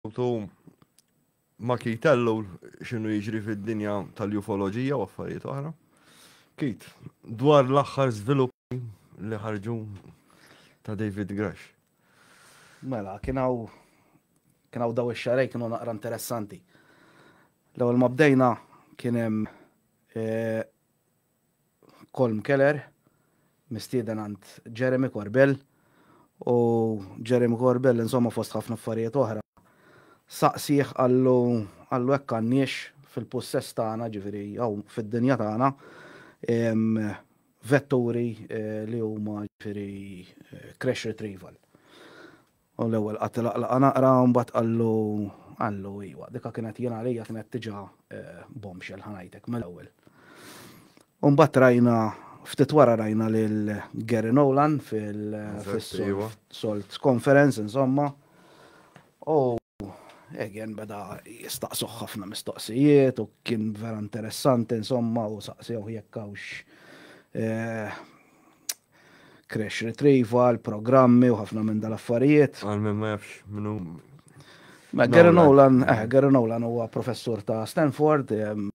Ħutu ma Keith Tellow x'inhu jiġri fid-dinja tal-ufoloġija u affarijiet oħra. Keith, dwar l-aħħar żviluppi li ħarġu ta' David Gresh. Mela, kien hawn kien hawn daw ix-xarej kienu naqra interessanti. L-ewwel ma bdejna kien hemm eh, Colm Keller, mistieden għand Jeremy Corbell, u Jeremy Corbell insomma fost ħafna affarijiet oħra saqsieh qallu qallu hekk għandniex fil-pussess tagħna ġifieri hawn fid-dinja tagħna vetturi li huma ġifieri crash retrieval. U l-ewwel qagħad ilaqlaqha naqra u mbagħad qallu, qallu, iwa, dik kienet jien għalija kienet diġà bombshell, ħa ngħidlek mill-ewwel. U mbagħad rajna, ftit wara rajna lil Gary Nolan fis-Salt Conference, insomma, u Egan beda jistaqsuh ħafna mistoqsijiet u kien vera interessanti, insomma, u saqsewh jekk hawnx crash retrieval, programmi u ħafna minn dal-affarijiet. Għal minn ma jafx minnu. Ma Gary Nolan, eh, Gary Nolan huwa professur ta' Stanford, ehm,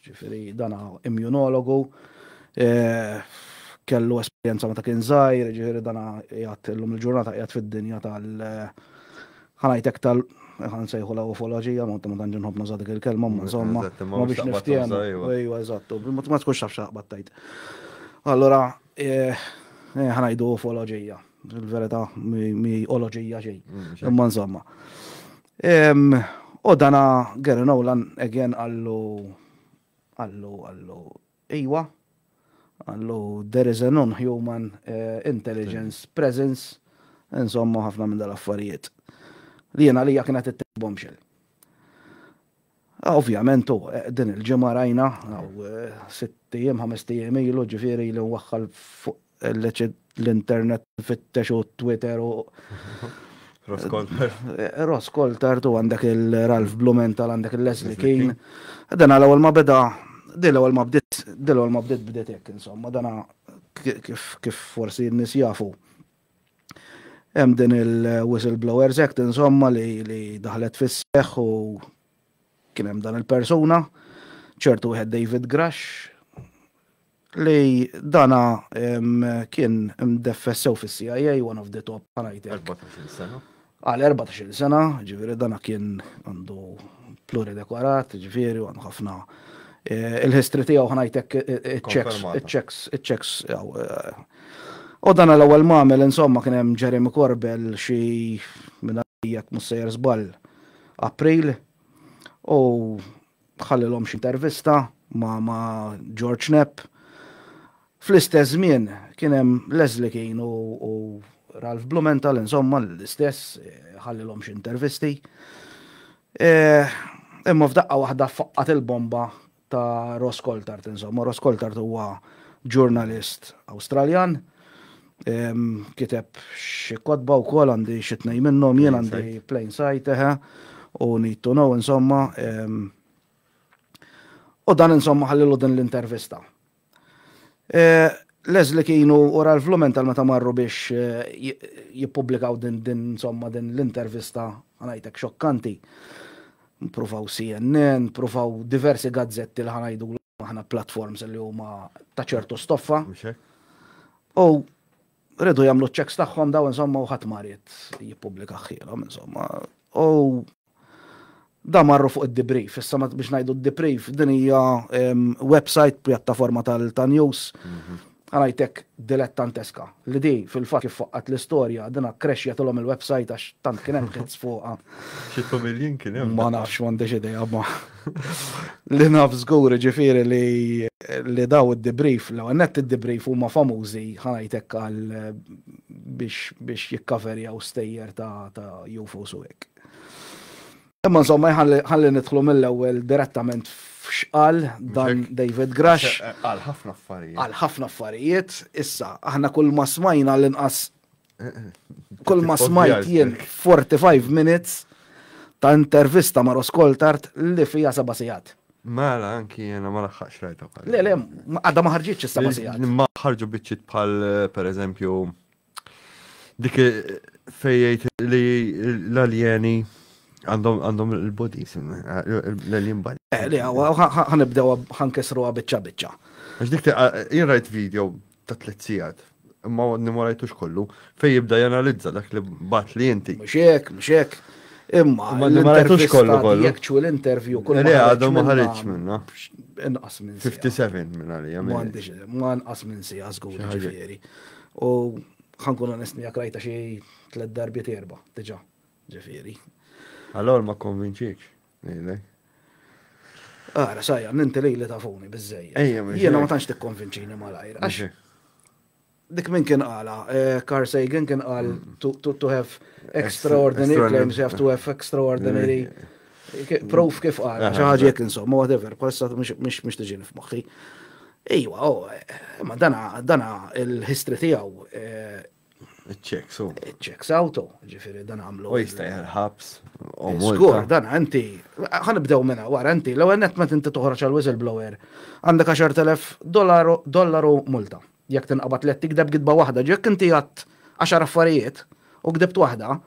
ġifiri dana immunologu, eh, kellu esperienza ma ta' kien zaħir, ġifiri dana jgħat l-lum il-ġurnata jgħat fid-dinja tal- Ħa ngħidlek tal ħa nsejħulha ufoloġija, ma ma tantx inħobb nuża' dik il-kelma, imma insomma, ma biex niftiehmu. Ejwa, eżatt, ma tkunx taf x'taqbad tgħid. Allura, ħa ngħidu ufoloġija, il-verità mi oloġija xejn, imma insomma. U dana Gary Nolan again qallu qallu qallu Iwa, qallu, there is a non-human intelligence presence, insomma ħafna minn dal-affarijiet li jien għalija kienet it-tieni bombshell. Ovvjament hu, din il-ġimgħa rajna, sitt ijiem, ħamest ijiem ilu, ġifieri li waħħal fuq l-internet fittex u Twitter u. Roskoltar. Roskoltar tu għandek il-Ralph Blumenthal għandek il-Leslie King. Dan għal ewwel ma beda, dil ewwel ma bdiet, dil ewwel ma bdiet bdiet hekk insomma, dana kif forsi n-nies jafu. Hemm din il-Whistleblowers Act insomma li daħlet fis-seħħ u kien hemm dan il-persuna, ċertu wieħed David Grash, li dana kien mdeffes sew fis-CIA, one of the top, ħanajtek. 14 sena. Għal 14 sena, ġifieri dana kien għandu pluridekorat, ġifieri għandu ħafna Eh, il-history tiegħu ħnajtek iċ-checks, eh, iċ-checks, iċ-checks. Eh. U dan l-ewwel mamel insomma kien hemm Jeremy Corbell xi minn jekk mussejjer żball April u Ħallilhom xi intervista ma' ma' George Knapp. Fl-istess żmien kien hemm Leslie Keane u u Ralph Blumenthal insomma l-istess ħallilhom xi intervisti. Imma f'daqqa waħda ffaqqat il-bomba ta' Ross Coulthart insomma. Ross Coulthart huwa ġurnalist Awstraljan Kiteb xi kotba wkoll għandi xi tnejn minnhom jien għandi plain sight eħe u need to know insomma. U dan insomma ħallilu din l-intervista. Leslie kienu u Ralph Blumenthal meta marru biex jippubblikaw din insomma din l-intervista ħa ngħidlek xokkanti. Pruvaw CNN, pruvaw diversi gazzetti li ħa ngħidulek. aħna platforms li huma ta' ċertu stoffa. U rridu jagħmlu ċeks tagħhom daw insomma u ħadd marit jippubblika ħilhom insomma. U da marru fuq id-debrief, issa biex ngħidu d-debrief, din hija website pjattaforma tal-news mhm. Qrajtek dilettanteska, li di, fil-fatt kif faqqgħet l-istorja, din akkrexxjatilhom il-websajt għax tant kien hemm ħids fuqha. Xi tfamiljin kien hemm? Ma nafx, m'għandix idea, imma li naf żgur jiġifieri li daw id-debrief, l-ewwel nett id-debrief huma famużi ħa ngħid hekk għal biex jikkaverjaw stejjer ta' UFOs u hekk. Imma insomma ħalli nidħlu mill-ewwel direttament f'xqal dan David Grash. Għal ħafna affarijiet. Għal ħafna affarijiet, issa aħna kull ma smajna l-inqas kull ma smajt jien 45 minutes ta' intervista ma' Roskoltart li fija seba' sigħat. Mela, anki jena ma laħħax rajta. Le, le, għadda ma ħarġitx is-seba' sigħat. Ma ħarġu biċċit bħal per eżempju Dik fejjajt li l-aljeni għandhom il-bodis, l-alien body. Eh, li għaw, għanibdew għankesru għabicċa bicċa. Għax dik jien rajt video ta' tliet sigħat, imma għadni ma rajtux kollu, fej jibda janalizza dak li bat li inti. Mxek, mxek. Imma, ma rajtux kollu kollu. Jek ċu l-intervju kollu. Li għadu ma ħarġ minna. Inqas minn 57 minna li għamil. Ma nqas minn si għazgur ġifieri. U ħa nkun onest miegħek rajtha xi tliet darbiet erba' diġà, ġifieri. Allor ma kkonvinċiekx, ngħidlek. Ara, sajja, ninti li li tafuni bizzej. Ejja, minn Jiena ma tantx tikkonvinċini malajr. Għax dik minn kien għala, eh, Carl Sagan kien għal mm. to have extraordinary claims, you have to have extraordinary proof kif għala, xaħġi jek insomma, whatever, bħalissa mux tiġini f'moħħi. Iwa, oh, ma dana, dana il-history tijaw. Eh, checks out. Checks out, oh, ġifiri dan għamlu. U jista jħarħabs. Skur, dan għanti. Għan bdew minna, għara għanti, l għennet ma tinti toħroċ għal whistleblower. Għandek 10.000 dollaru multa. Jek tinqabat li tikdeb gidba wahda, ġek inti għat 10 affarijiet u gdibt wahda,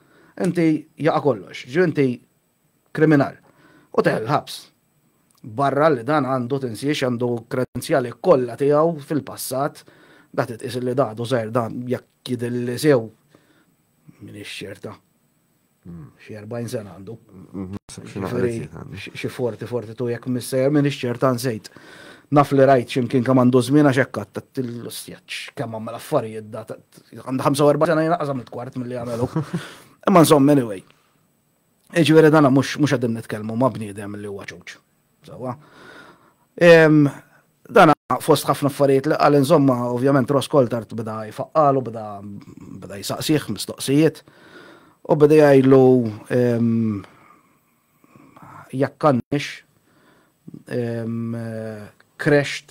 inti jaqa kollox. Ġu inti kriminal u teħel il-ħabs. Barra li dan għandu tinsiex għandu kredenzjali kollha tiegħu fil-passat, da titqis li da għadu żgħir dan jekk jidilli sew minn ix-xerta. Hmm. Xi 40 sena għandu. Hmm, hmm, xi 40 42 jekk missejjer minn ix-xerta nsejt. Naf li rajt ximkien kemm għandu żmien għax hekk għattat l-istjaċ kemm għamel affarijiet da għandu 45 sena jina qasam il-kwart mill-li għamelu. Imma insomma anyway. Jiġifieri dan mhux mhux qegħdin nitkellmu ma' bniedem li huwa ċuċ. Sewwa. Dan fost ħafna affarijiet li qal insomma ovvjament Ross Coltart beda jfaqqalu, beda beda jsaqsih mistoqsijiet u beda jgħidlu jekk għandniex crashed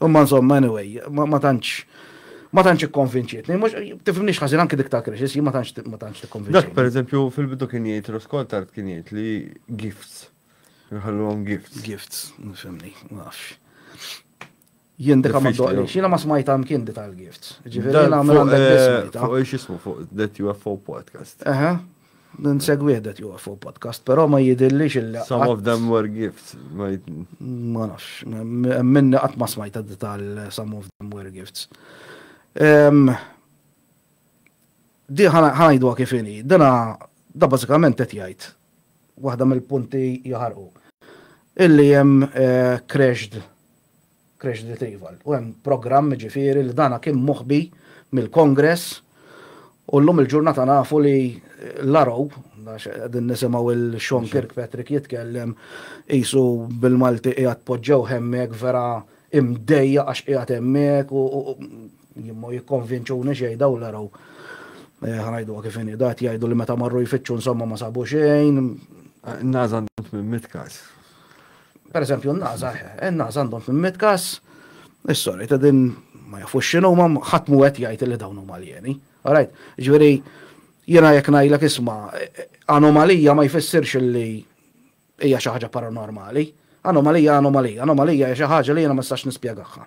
Imma insomma, anyway, ma tantx ma tantx ikkonvinċietni, mhux tifhimniex ħażin anke dik ta' Krixis, ma tantx ma tantx tikkonvinċietni. Dak pereżempju fil-bidu kien jgħid Roskol tard kien jgħid li gifts. Nħalluhom gifts. Gifts, nifhimni, ma nafx. Jien dik ma doqli, xina ma smajta mkien di tal-gifts. Ġifieri nagħmel għandek eh, Fuq x'ismu fuq that UFO podcast. Eħe, Nsegwih dat juwa fuq podcast, però ma jidillix il Some of them were gifts. Ma nafx, minni qatt ma smajta tal some of them were gifts. Di ħanajdu kif ini, dana da bażikament qed jgħid waħda mill-punti jaħarqu. Illi hemm crashed Crash Retrieval. U hemm programm jiġifieri li dan kien moħbi mill-Kongress u llum il-ġurnata nafu li l-Arrow, għax qegħdin nisimgħu lil Sean Kirkpatrick jitkellem qisu bil-Malti qiegħed poġġewh hemmhekk vera imdejjaq għax qiegħed hemmhekk u jien ma jikkonvinċuni xejn dawn l-Arrow. Ħa ngħiduha kif inhi, daqt jgħidu li meta marru jfittxu insomma ma sabu xejn. Ngħażamt minn mitt każ. Per eżempju, n-naza, n-naza għandhom fimmet kas, is-sorry, ta' din ma jafux xinu, ma ħadd mu għet jgħid li dawn huma alieni. Alright, ġveri, jena jek najlek isma, anomalija ma jfissirx li hija xi ħaġa paranormali. Anomalija, anomalija, anomalija hija xi ħaġa li jena ma nistax nispjegaħħa.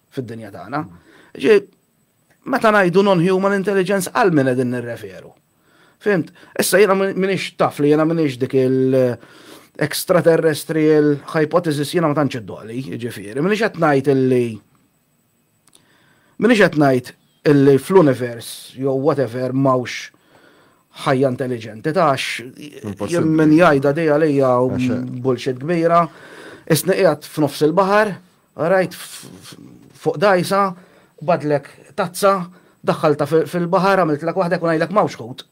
fid-dinja tagħna. Ġi, meta ngħidu non-human intelligence għal min qegħdin nirreferu. Fimt, issa jiena minix taf li jiena minix dik il- extraterrestrial hypothesis jiena ma tantx id-doli, ġifieri, minix qed ngħid illi minix qed ngħid illi fl-univers jew whatever mawx ħajja intelligenti tax jien min jgħidha dejja lejja bullshit kbira, isni qiegħed f'nofs il-baħar, Qrajt fuq dgħajsa, bgħatlek tazza, daħħaltha fil-baħar, għamiltlek waħdek u ngħidlek m'hawnx ħut.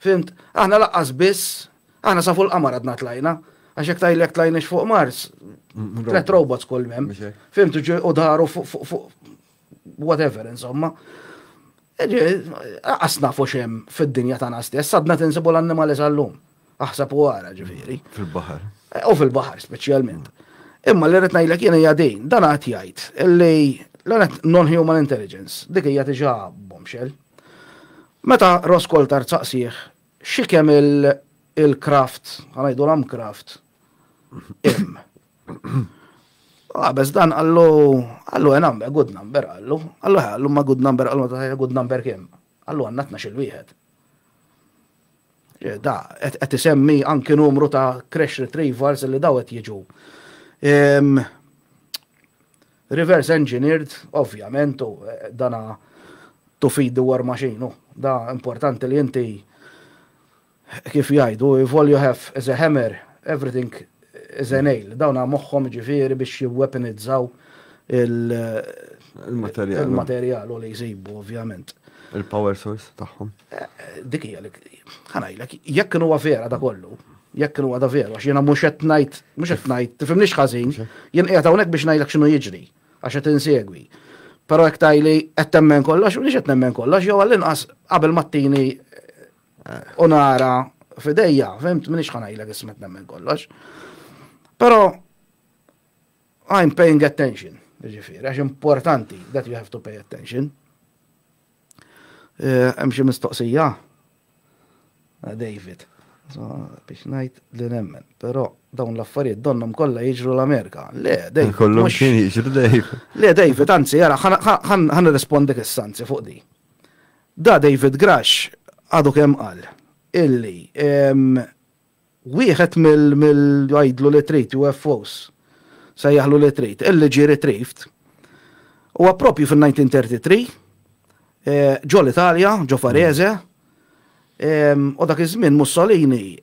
Fhimt? Aħna lanqas biss, aħna sa fuq il-qamar għadna tlajna. Għax jekk tajlek tlajniex fuq Mars, tlet robots kull mem. Fhimt u daru fuq whatever, insomma. Għasna fuq xem fid-dinja tagħna stess, għadna tinsibu l-annimali sal-lum. Aħsab u għara ġifieri. Fil-baħar. Eh, u fil-baħar speċjalment. Imma li rrid ngħidlek jien hija din, dan għad jgħid li l-għanet non-human intelligence, dik hija diġà bombshell. Meta Roskol tar saqsih, xi kemm il-kraft, għanajdu l kraft, im. Għabez ah, dan għallu, għallu għen number, good number għallu, għallu għallu ma good number, għallu ma good number kem. Għallu għandna tnax-il wieħed. Da, qed isemmi anki numru ta' crash retrievers li daw qed jiġu. Reverse engineered, ovvjament, u eh, dana to feed the war machine, da importanti li inti Kif jgħidu, if all you have is a hammer, everything is a nail. Dawn moħħhom jiġifieri biex jiwwepenizzaw il-materjal u li jsibu ovvjament. Il-power source tagħhom. Dik hija li ħa ngħidlek, jekk kienu huwa vera da kollu, jekk kienu huwa da vera, għax jiena mhux qed ngħid, mhux qed ngħid, tifhimniex ħażin, jien qiegħed hawnhekk biex ngħidlek x'inhu jiġri, għax qed insegwi. Però jekk tgħidli qed temmen kollox, m'iniex qed nemmen kollox, jew għall-inqas qabel ma ttini U nara fidejja, fimt, minix ħanajlek ismet nemmen kollox. Pero, I'm paying attention, ġifiri, għax importanti that you have to pay attention. Eh, hemm xi mistoqsija? Eh, David. Biex ngħid li nemmen, però dawn l-affarijiet donnom kollha jiġru l-Amerika. Le, David. Kollhom kien jiġru David. Le, David, anzi, jara, ħan nirrispondi kissanzi fuq di. Da David Grash għadu kemm qal illi wieħed mill jgħidlu li trid UFOs, sejjaħlu li trid, illi ġie retrieved huwa proprju fin-1933 ġo l-Italja, ġo Varese, u dak iż-żmien Mussolini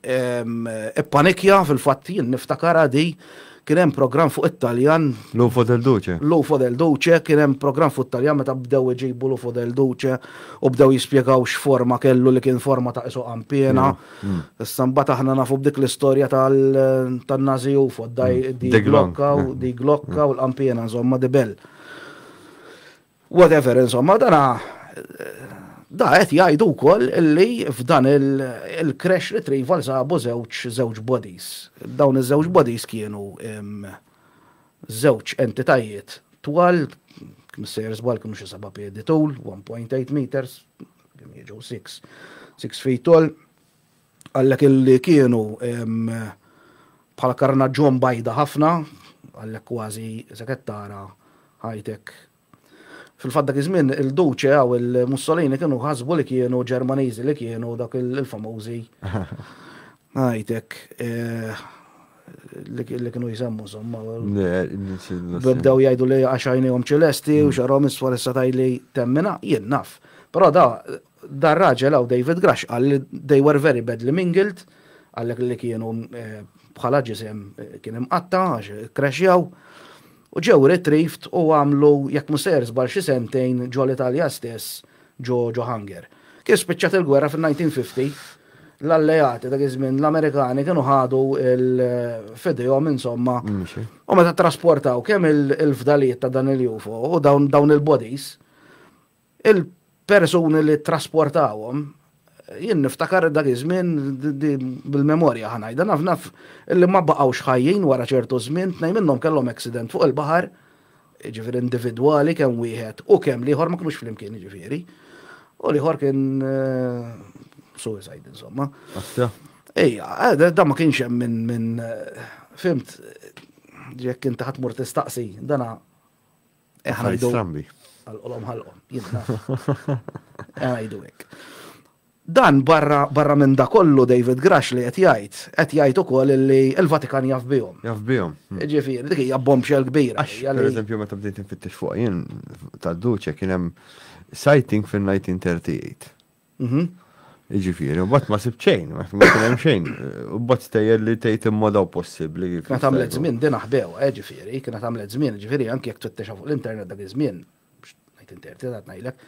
ippanikja fil-fatt jien niftakarha di kien hemm programm fuq it-Taljan. L-UFO del Duce. L-UFO del Duce, kien hemm programm fuq it-Taljan meta bdew iġibu l-UFO del Duce u bdew jispjegaw x'forma kellu li kien forma ta' isu qampiena. Issa mbagħad aħna nafu b'dik l-istorja tan-Nazi UFO, di glokka u di glokka u l-qampiena, insomma, di bell. Whatever insomma, dana da qed jgħidu wkoll li f'dan il-crash retrieval sabu żewġ żewġ bodies. Dawn iż-żewġ bodies kienu żewġ entitajiet twal, kemm issejjer żball kienu xi seba' piedi tul, 1.8 meters, kemm jiġu six, six feet tall. Għallek illi kienu bħala karnaġġon bajda ħafna, għallek kważi se qed tara ħajtek. Fil-fatt dak iż-żmien il-Duce u l-Mussolini kienu ħasbu li kienu Ġermaniżi li kienu dak il-famużi. Ħajtek li kienu jisemmu somma. Bdew jgħidu li għax għajnihom ċelesti u xarhom isfar issa tajli temmina, jien naf. Però da Dar raġel hawn David Grush qal li they were very badly mingled, għallek li kienu eh, bħala ġisem eh, kien imqatta għax crashjaw u ġew retrieved u għamlu jekk musser żbal xi sentejn ġo l-Italja stess ġo ġo Hanger. Kien spiċċat il-gwerra fin-1950 l-alleati dak iż-żmien l-Amerikani kienu ħadu il-fidejhom insomma. Mm, u meta trasportaw kemm il-fdalijiet ta' dan il-UFO u dawn il-bodies Il-persuni li ttrasportawhom, jien niftakar dak iż-żmien bil-memorja ħa ngħidha naf naf li ma baqgħux ħajjin wara ċertu żmien, tnejn minnhom kellhom accident fuq il-baħar, jiġifieri individwali kemm wieħed u kemm l-ieħor ma kinux flimkien jiġifieri, u l-ieħor kien suicide insomma. Aħja. Ejja, eh, da ma kienx hemm minn min, fimt, jekk inti ħadd mur tistaqsi, dana Ħaj strambi. Għal-qolom ħal-qom, Għajdu hekk. Dan barra barra minn da kollu David Grash li qed jgħid, qed jgħid ukoll li l-Vatikan jaf bihom. Jaf bihom. Hmm. Ġifieri, dik hija bombshell kbira. Per eżempju, meta bdejt nfittex fuq jien tad-duċe kien hemm sighting fin-1938. Mhm. Jiġifieri, u mbagħad ma sibt xejn, ma kien hemm xejn. U mbagħad stejjer li tgħid immodaw possibbli. Kienet għamlet żmien din aħbew, eh, ġifieri, kienet għamlet żmien, ġifieri anke jekk tfittexa fuq l-internet dak iż-żmien, ngħid interti ta' ngħidlek.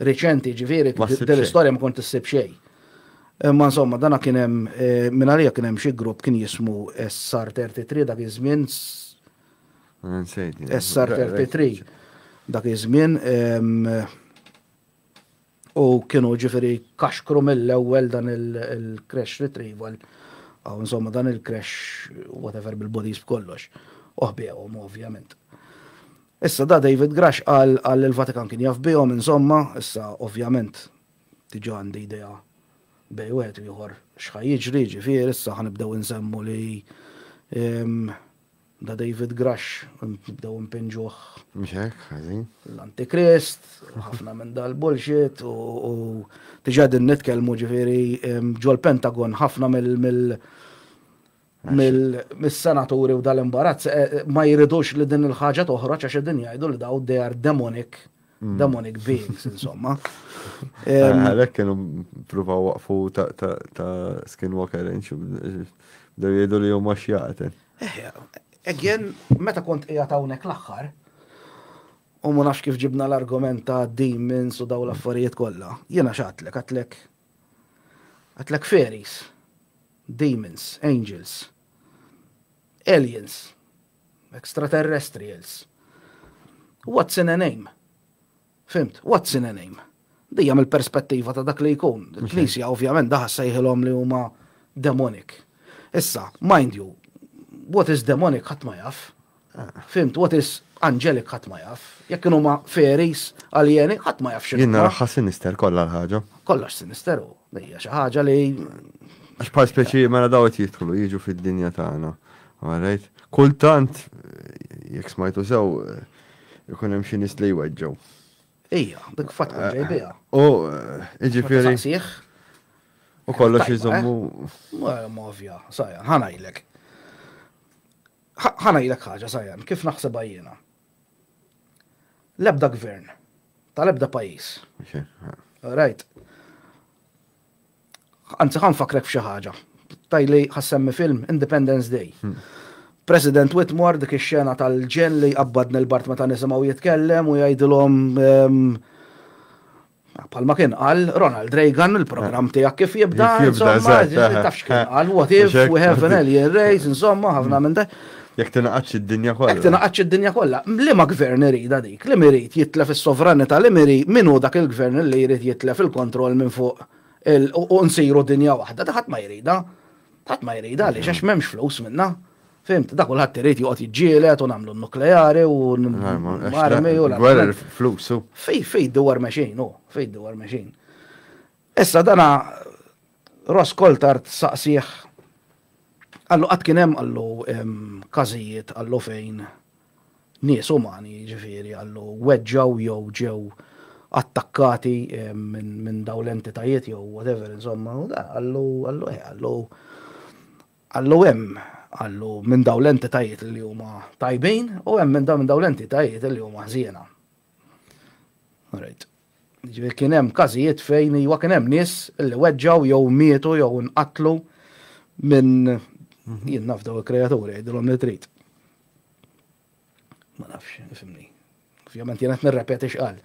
Riċenti ġifieri din l-istorja ma kont issib xejn. Imma insomma dana kien hemm eh, minn għalija kien hemm xi grupp kien jismu SR 33 dak iż-żmien. SR 33 dak iż-żmien U kienu ġifiri kaxkru mill-ewwel dan il-crash retrieval, għaw insomma dan il-crash whatever bil-bodies b'kollox, uħbijom ovvjament. Issa da David Grash għal għal il-Vatikan kien jaf bihom insomma, issa ovvjament tiġa għandi idea bej u għet u jħor xħaj jiġri ġifir, issa ħanibdew nsemmu li ehm, Da David Grush, bdew impinġuh. Mhux hekk, ħażin. L-Antikrist, u ħafna minn dal-bullshit, u diġà din nitkellmu ġifieri ġol-Pentagon ħafna mill- mill-senaturi u dal-imbarazz eh, ma jridux li din il-ħaġa toħroġ għax din jgħidu li daw they are demonic Mm. demonic beings, insomma. Ah, għalek kienu pruva waqfu ta' skinwalker, bdew jgħidu li jom għax jgħaten. Eh, again, meta kont qiegħed hawnhekk l-aħħar, u ma nafx kif ġibna l-argument ta' demons u daw l-affarijiet kollha, jiena xatlek, għatlek, għatlek fairies, demons, angels, aliens, Extraterrestrials. What's in a name? Fimt, what's in a name? Dija mill-perspettiva ta' dak li jkun. Il-knisja ovvjament daħas sejħilhom li huma demonic. Issa, mind you, what is demonic ħadd ma jaf. Ah. Fimt, what is angelic ħadd ma jaf. Jekk kienu ma fairies, aljeni, ħadd ma jaf xi. Jien naraħħa sinister kollha l-ħaġa. Kollox sinister u. Hija xi ħaġa li Għax bħal speċi mela daw qed jidħlu jiġu fid-dinja tagħna. Alright? Kultant jekk smajtu sew ikun hemm xi nies li jweġġgħu. Ija, dik fatt kien ġej biha. U jiġifieri. U kollox iżommu. Movja, sajja, ħanajlek. Ħanajlek ħaġa sajja, kif naħseb jiena. L-ebda gvern, tal-ebda pajjiż. Rajt. Anzi, ħan fakrek f'xi ħaġa. Tajli ħassemmi film Independence Day. Hmm. President Whitmore dik ix-xena tal-ġen li qabbadni l-bart meta nisimgħu jitkellem u jgħidilhom ehm, Bħalma kien qal Ronald Reagan, il-programm tiegħek kif jibda, insomma, tafx kien qal, what if we have an alien race, insomma, ħafna minn dak. Jek tinaqaċ id-dinja kollha. Jek tinaqaċ id-dinja kollha. Li ma gvern irida dik, li mirid jitlef is-sovranità, li miri minu dak il-gvern li jrid jitlef il-kontroll minn fuq u nsiru dinja waħda, daħat ma jrida. Ħadd ma jrida li xax m'hemmx flus minna. Fimt, da kulħadd irid joqgħod jiġġieled u nagħmlu n-nukleari u l-armi u l-armi. Gwerer flusu. Fej, fej, dwar meċin, u, fej, dwar meċin. Issa dana Ross Coltart saqsieħ għallu qatt kien hemm għallu każijiet għallu fejn nies umani ġifieri għallu weġġaw jew ġew attakkati minn daw l-entitajiet jew whatever insomma u da għallu għallu eh, għallu Qallu hemm, qallu, minn dawn l-entitajiet li huma tajbin u hemm minn dawn l-entitajiet li huma ħżiena. Alright. Ġifieri kien hemm każijiet fejn iwa kien hemm nies li weġġgħu jew mietu jew inqatlu minn mhm. jien naf daw il-kreaturi jgħidilhom li trid. Ma nafx, fimni. Ovvjament jena t-nirrepeti xqal.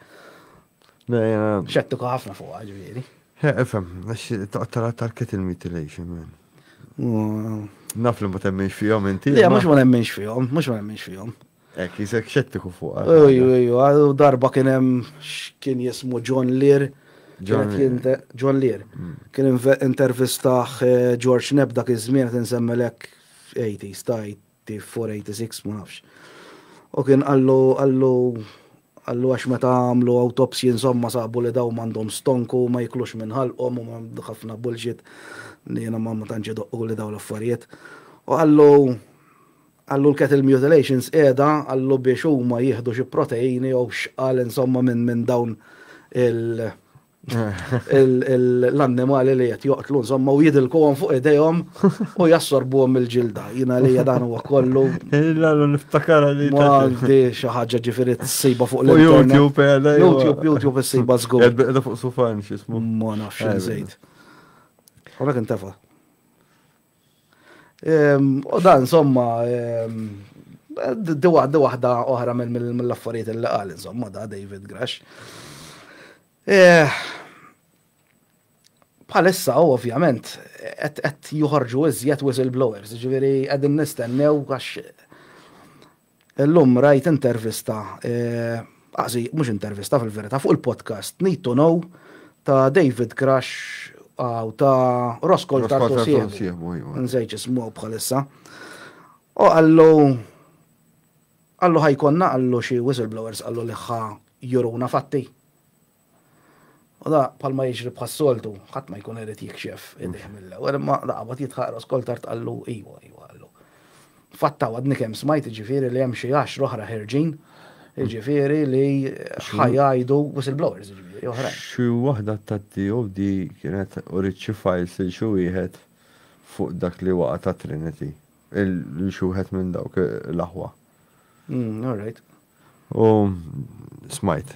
Xettu ħafna fuq ġviri. Efem, għax taqtara tarket il-mutilation, man. Naf li ma temminx fihom inti. Le, mux ma nemminx fihom, mux ma nemminx fihom. Ek, jisek xettiku fuq. Uju, uju, għadu darba kienem xkien jismu John Lear. John Lear. Mm. Kien intervistaħ eh, George Neb dak iż-żmien qed insemmelek 80s tajt T486 ma nafx. U kien qallu qallu qallu għax meta għamlu awtopsji insomma sabu li dawn m'għandhom stonk u ma jiklux minn ħalqhom u ħafna bullshit li jiena ma tantx idoqquli dawn l-affarijiet. U qallu qallu l-cattle mutilations qiegħda qallu biex huma jieħdu xi proteini jew x'qal insomma minn minn dawn il l-annimali li qed joqtlu insomma u jidilkuhom fuq idejhom u jassorbuhom il-ġilda. Jiena li dan huwa kollu. Illa niftakar li. Għandi xi ħaġa ġifieri tsiba fuq l-internet. YouTube, eh, YouTube, YouTube issiba żgur. Qed fuq sufan x'ismu. Ma nafx żejt. Għalhekk intefa'. Ehm, u dan, insomma, ehm, di waħda waħda oħra mill-affarijiet li qal, insomma, da David Grash. Eh, Palissa, ovvjament, qed juħorġu iżjed whistleblowers, ġifieri qegħdin nistennew għax Illum rajt intervista, anzi mhux intervista fil-verità, fuq il-podcast Need to Know ta' David Crush u ta' Roscoe Tartosievo. Nżejġ ismu bħalissa. U għallu għallu ħajkonna għallu xi whistleblowers għallu li ħa juruna fatti. U da, bħalma jiġri bħas-soltu, ħadd ma jkun irid jikxef idejh mill-ewwel, imma da qabad jitħaq ras kol tard qallu iwa, iwa qallu. Fatta għadni kemm smajt jiġifieri li hemm xi għaxra oħra ħerġin, jiġifieri li ħajajdu whistleblowers jiġifieri oħrajn. Xi waħda tat-TOD kienet uriet xi files lil xi wieħed fuq dak li waqa' ta' Trinity, lil xi wieħed minn dawk l-aħwa. All right. U smajt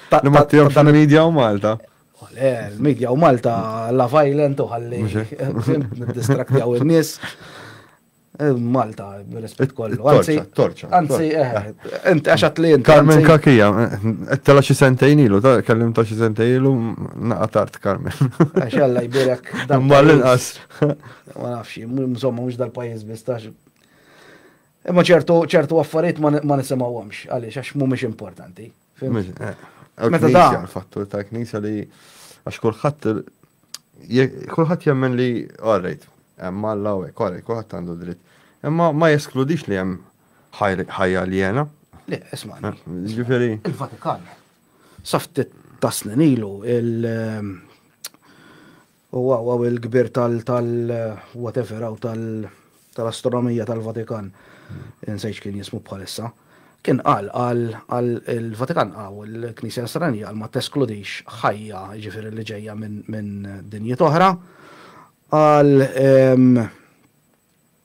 Li ma tijom xan media u Malta. Le, l-media u Malta la violent u ħalli. Distraktjaw il-nis. Eh, Malta, rispet kollu. Anzi, torċa. Anzi, eh, int għaxat li int. Carmen Kakija, eh, tela xi sentejn ilu, kellim ta' xi sentejn ilu, naqa tart Carmen. Għaxalla jbirek. Ma l-inqas. Ma nafx, mżomma mux dal-pajis bistax. Imma ċertu ċertu affarijiet ma nisimgħuhomx għaliex għax mhumiex importanti. Meta da. Fattur tal-knisja li għax kulħadd kulħadd jemmen li għarrejt, hemm Alla u hekk għarrejt, kulħadd għandu dritt. Imma ma jeskludix li hemm ħajja li jena. Le, isma' eh, Ġifieri. Il-Vatikan. Saftit taslin ilu il- U waw waw il-kbir tal tal whatever hawn tal tal-astronomija tal-Vatikan. Insejt x'kien jismu bħalissa. Kien qal qal qal il-Vatikan hawn il-Knisja Nasranija qal ma teskludix ħajja jiġifieri li ġejja minn minn dinjiet oħra. Qal ehm.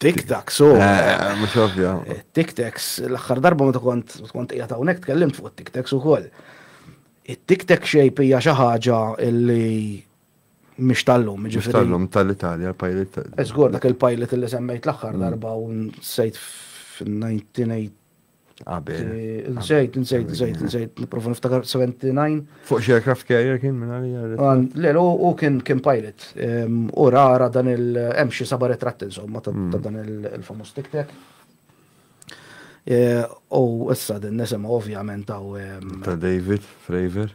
Tik-tak, so. Mux ovvja. Tik-taks, l-axħar darba ma kont kont qiegħed hawnhekk tkellimt fuq it-tik-taks ukoll. It-tik-tak xejp hija xi ħaġa li mhix tal-lum, ġifieri. Mhux tal-lum tal-Italja, l-pilot. Eżgur dak il-pilot li semmejt l-aħħar darba u nsejt fin-1980 Qabel. Nżejt, nżejt, nżejt, nżejt, niprofa niftakar 79. Fuq xi aircraft carrier kien minn għalija. Le, u kien kien pilot. U rara dan il-hemm xi saba retratt insomma ta' hmm. dan il-famus tiktek. U issa din nisimgħu ovvjament ta' David Fravor.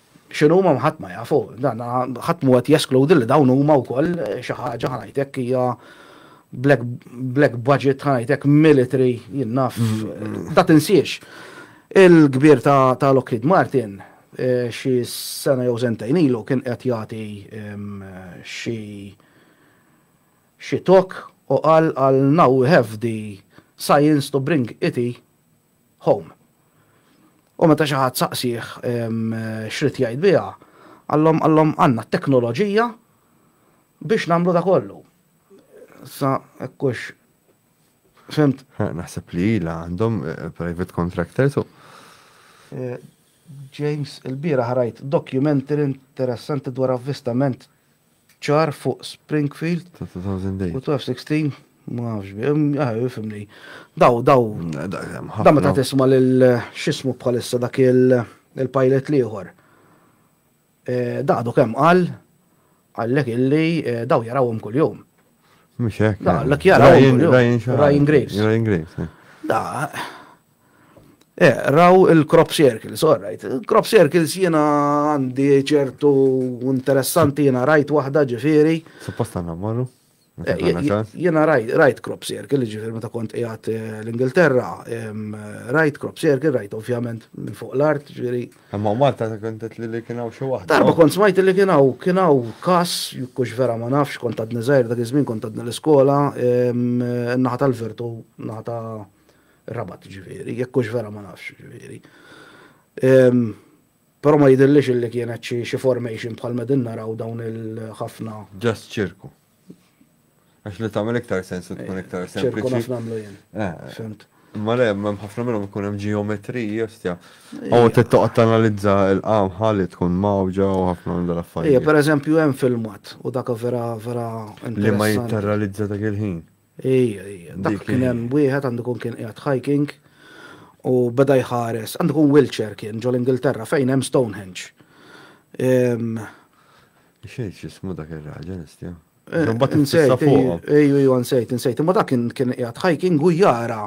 X'inhuma ħadd ma jafu, dan ħadd mhu qed jeskludi li dawn huma wkoll xi ħaġa ħanajtek hija black, black budget ħanajtek military jien naf ta' tinsiex. Il-kbir ta', ta Lockheed Martin xi sena jew sentejn ilu kien qed jagħti xi xi talk u qal għal now we have the science to bring it Home. U meta xi ħadd saqsih x'ried jgħid biha, qalhom qalhom għandna t-teknoloġija biex nagħmlu da kollu. Sa hekk hux fimt. Naħseb li ilha għandhom eh, private contractors u. Eh, James, il-bira ħarajt documentary interessanti dwar avvistament ċar fuq Springfield. Ta' 2000 dej. U 1216, ma nafx bi, ah, fimni. Daw, daw. Daw meta tisma lil xismu bħalissa dak il-pilot liħor. Eh, Daqdu kem qal, għallek illi eh, daw jarawhom kull-jum. Mux hekk. Daqlek jarawhom. Ryan Graves. Ryan Graves. Eh. Da, Eqraw il-crop circles, all right. Crop circles jiena għandi ċertu interessanti jiena rajt waħda ġifieri. Suppost għandna mmorru? Jiena rajt crop circle, ġifieri meta kont qiegħed eh, l-Ingilterra, rajt crop circle, rajt ovvjament minn fuq l-art, ġifieri. Imma Malta kont qed li kien hawn xi waħda. Darba kont smajt li kien hawn kien hawn każ, kux vera ma nafx kont għadni żgħir dak iż-żmien kont għadni l-iskola, naħa tal-virtu, naħa ta' Rabat ġifieri, jekk hux vera ma nafx ġifieri. Però ma jidillix illi kienet xi formation bħal medin naraw dawn il-ħafna. Just ċirku. Għax li tagħmel iktar sens u tkun iktar sens. Ċirku naf nagħmlu jien. Eh. Fimt. Ma le, ma ħafna minnhom ikun hemm ġeometriji, ostja. U tittoqgħod tanalizza l-qam ħalli tkun mawġa u ħafna minn dal-affarijiet. Ija, pereżempju hemm filmat u dak vera vera Li ma jitterralizza dak il-ħin. Ejja, ejja. Dak kien hemm wieħed għandu kun kien qiegħed hiking u beda jħares. Għandu kun Wiltshire kien ġol Ingilterra fejn hemm Stonehenge. Xejn x'ismu dak ir-raġel istja. Mbagħad insejt fuq. Ejju, ejju insejt, insejt. Imma dak kien kien qiegħed hiking u jara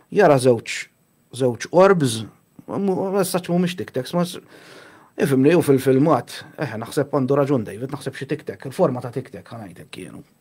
jara żewġ żewġ orbs, messaġġ mhumiex tiktex, ma ifimni u fil-filmat, eħe naħseb għandu raġun David, naħseb xi tiktek, il-forma ta' tiktek ħanajtek kienu.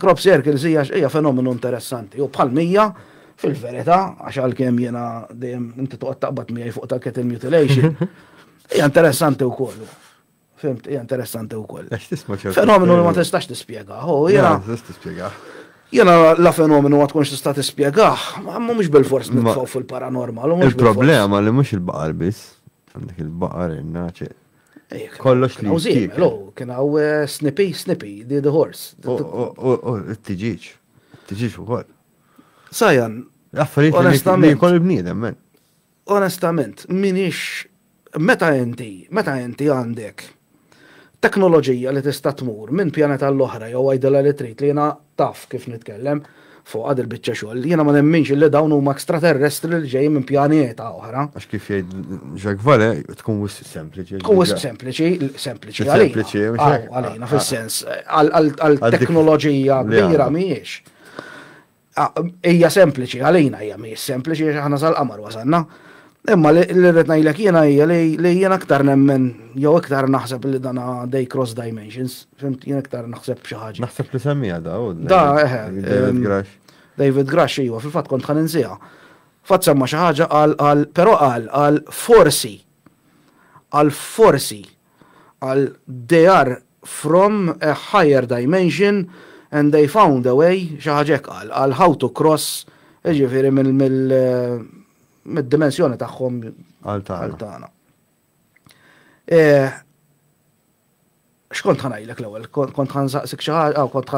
Crop circles hija hija fenomenu interessanti u bħal mija fil-verità għax għalkemm jiena dejjem inti toqgħod taqbad miegħi fuq ta' cattle mutilation. Hija interessanti wkoll. Fimt, hija interessanti wkoll. Fenomenu li ma tistax tispjega. Ho, jiena. tispjega. Jiena la fenomenu ma tkunx tista' tispjega, ma mhux bil-fors nitfgħu fil-paranormal. Il-problema li mhux il-baqar biss, għandek il-baqar, il-naċe. Kollox li jistik. Kien għaw eh, snipi, snipi, di the horse. U t-tiġiġ, t-tiġiġ u koll. Sajan. Affarijiet onestament. Kol il-bniedem, men. Onestament, minix, meta inti, meta inti għandek teknoloġija li tista' tmur minn pjaneta l-oħra jew għajdela li trid li jena taf kif nitkellem. fuqha dil-biċċa xogħol. Jiena ma nemminx illi dawn huma extraterrestri li ġejjin minn pjaneta oħra. Għax kif jgħid Jacques Vallée, tkun wisq sempliċi. Tkun wisq sempliċi, sempliċi għalina. Għalina, fis-sens, għal-teknoloġija kbira mhijiex. Hija sempliċi għalina, hija mhijiex sempliċi għax aħna sal-qamar wasanna. Imma li rrid ngħidlek jiena hija li jien aktar nemmen jew iktar naħseb li dan dej cross dimensions, fimt jien iktar naħseb xi ħaġa. Naħseb li semmija da u Da, eħe. David Grash. David Grash iva, fil-fatt kont ħan insiha. Fatt semma xi ħaġa qal qal però qal qal forsi qal forsi qal they are from a higher dimension and they found a way xi ħaġa hekk qal qal how to cross jiġifieri mill mid-dimensjoni tagħhom għal tagħna. X'kont ħanajlek l-ewwel? Kont ħansaqsik xi ħaġa, aw kont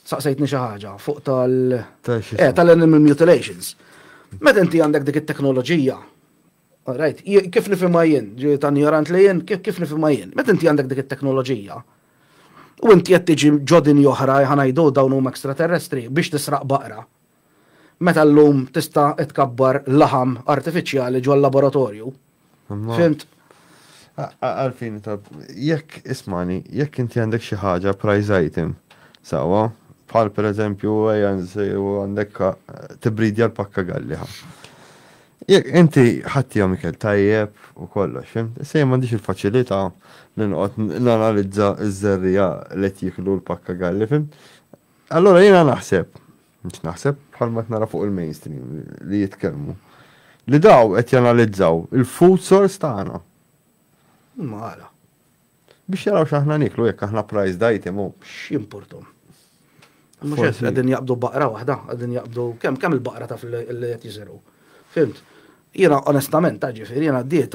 saqsejtni xi ħaġa fuq tal eh, tal-animal mutilations. Meta inti għandek dik it-teknoloġija, right, kif nifhimha jien, ġi ta' ignorant li jien, kif nifhimha jien, meta inti għandek dik it-teknoloġija, u inti qed tiġi ġodin oħra ħanajdu dawn huma ekstraterrestri biex tisraq baqra, meta llum tista' tkabbar laħam artifiċjali ġol laboratorju. Fimt? Għalfin ta' jekk ismani, jekk inti għandek xi ħaġa prize item, sewwa, bħal pereżempju ejja nsejru għandek tibridja l-pakka galliħa. Jekk inti ħaddihom ikel tajjeb u kollox, fim? Se m'għandix il-faċilità li noqgħod nanalizza ż-żerrija li qed jiklu l-pakka galli, fim? Allora jiena naħseb, mhux naħseb bħalma qed nara fuq il-mainstream li jitkellmu, li daw qed janalizzaw il-food source tagħna. Ma għala. Biex jaraw x'aħna niklu jekk aħna priced item u. X'jimportom. Mhux qed qegħdin jaqbdu baqra waħda, qegħdin jaqbdu kemm kemm il-baqra taf li qed jiżergħu. Fimt? Jiena onestament, ġifieri, jiena għaddiet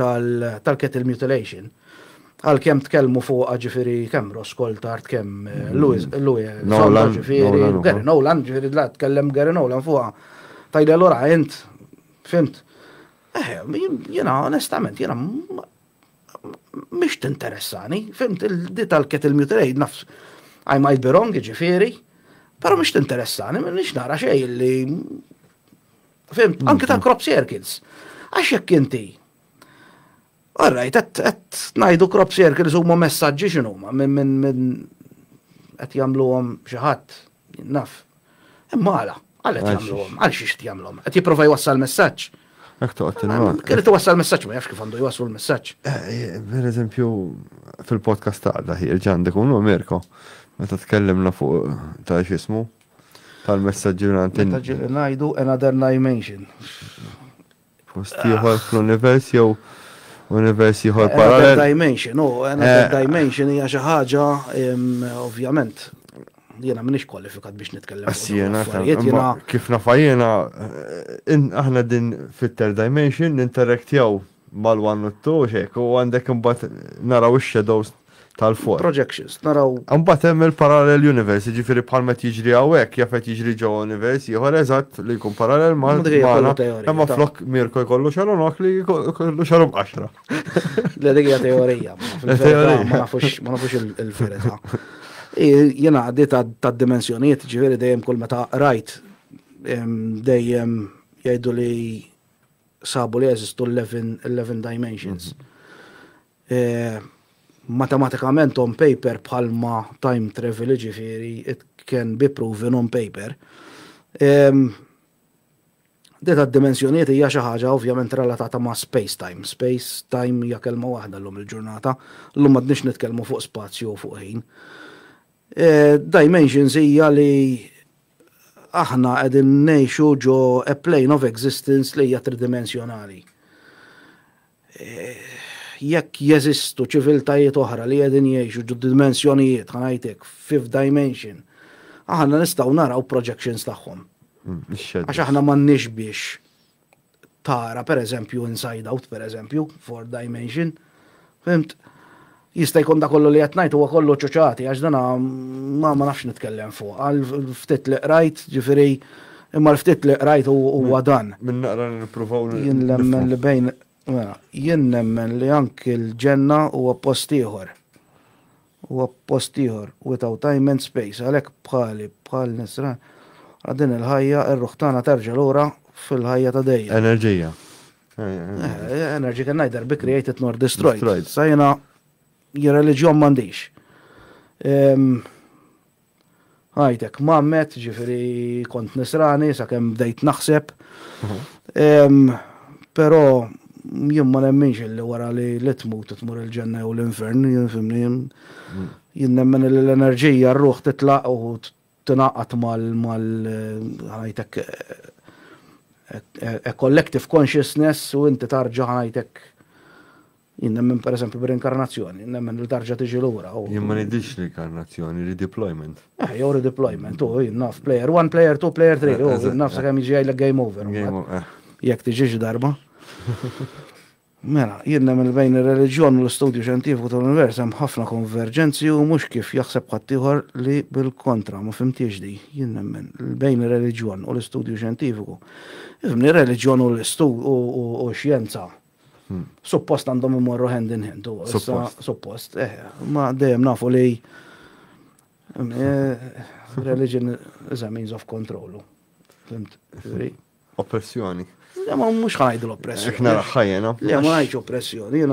tal-cattle mutilation, għalkemm tkellmu fuqha ġifieri kemm Ross Coulthart, kemm Louis Zonta ġifieri, Gary Nolan, ġifieri la tkellem Gary Nolan fuqha, tgħidli allura int, fhimt? Eħe, jiena onestament, jiena mhix tinteressani, fhimt, di tal-cattle mutilation, naf, I might be wrong, ġifieri, però mhix tinteressani, m'iniex nara xejn li Fim, mm. anke ta' crop circles. Għax jekk inti. Alright, qed ngħidu crop circles huma messaġġi x'inhu huma minn minn minn qed jagħmluhom xi ħadd naf. Imma għala, għal qed jagħmluhom, għal xi qed jagħmluhom. Qed jipprova jwassal messaġġ. Ek toqgħod il-mal. Kelli twassal messaġġ ma jafx kif għandu jwasslu l-messaġġ. Eh, eh, per eżempju, fil-podcast ta' daħi il-ġandek unu Mirko, meta tkellimna fuq ta' xismu, tal-messaġġi mingħand in- Meta ġieli ngħidu another dimension. post ieħor fl-univers jew univers ieħor Another parallel. dimension, oh, another Eh. dimension hija xi ħaġa, em, ovvjament, jiena m'iniex kwalifikat biex nitkellem fuq dawn Assijena, l-affarijiet, jiena kif nafajjena, aħna din fit-third dimension ninteraktjaw mal-one u t-two hekk u għandek imbagħad naraw ix-shadows tal-four. Projections, naraw. Imbagħad hemm il-parallel universe, jiġifieri bħal ma qed jiġri hawnhekk, jaf qed jiġri ġewwa univers ieħor eżatt li jkun parallel ma' magħna, imma flok Mirko jkollu xaru nokli jkollu xaru b'qaxra. Le dik hija teorija. Teorija. Ma nafux il-verità. Jiena għaddi tad-dimensjonijiet, ġifieri dejjem kull meta rajt dejjem jgħidu li sabu li jeżistu l-11 dimensions. Matematikament on paper bħalma time travel ġifiri, it can be proven on paper. Deta d-dimensjonijiet hija xi ħaġa ovvjament relatata ma' space time. Space time hija kelma waħda llum il-ġurnata, llum m'għadniex nitkellmu fuq spazju u fuq ħin. Dimensions hija li aħna qegħdin ngħixu ġo a plane of existence li hija tridimensjonali. Jekk jeżistu ċiviltajiet oħra li qegħdin jgħixu ġo dimensjonijiet, ħanajt hekk, fifth dimension, aħna nistgħu naraw projections tagħhom. Għax aħna m'għandniex biex tara, per eżempju, Inside Out, per eżempju, Four Dimension, fimt, jista' jkun da kollu li qed ngħid huwa kollu ċuċati għax dana ma ma nafx nitkellem fuq. Għal ftit li qrajt, ġifieri, imma l-ftit li qrajt huwa dan. Min naqra nippruvaw Jien nemmen li bejn mela, jien nemmen li anki l-ġenna huwa post ieħor. Huwa post ieħor, without time and space, għalhekk bħali, bħal nisran, wara din il-ħajja, ir-ruħ tagħna terġa' lura fil-ħajja ta' dejjem. Enerġija. Energy can neither be created nor destroyed. Destroyed. Sa jiena reliġjon m'għandix. Ħajtek mammet, ġifiri kont nisrani sa' kem bdejt naħseb. Pero jien ma nemminx li wara li li tmut tmur il-ġenna jew l-infern, jien fimni. Jien nemmen li l-enerġija r-ruħ titlaq u tinaqat mal-ħajtek a collective consciousness u inti tarġa ħajtek Jien nemmen pereżempju b'rinkarnazzjoni, nemmen li tarġa' tiġi lura. Jien ma ngħidilx rinkarnazzjoni, redeployment. Eh, jew redeployment, u jien naf player 1, player 2, player 3, u jien naf sakemm jiġi jgħidlek game over. Eh. Jekk tiġix darba. Mela, jien nemmen bejn ir-reliġjon u l-istudju xjentifiku tal-univers hemm ħafna konverġenzi u mhux kif jaħseb ħaddieħor li bil-kontra ma fimtiex di. Jien nemmen bejn ir-reliġjon u l-istudju xjentifiku. Ifhimni reliġjon u l-istud u xjenza Suppost għandhom imorru hand in hand. Suppost. Suppost, eh, ma dejjem nafu li eh, religion is a means of control. Fimt? Oppressjoni. Le, ma mux ħajdu l-oppressjoni. Ekna ħajjena. Le, ma ħajġu oppressjoni.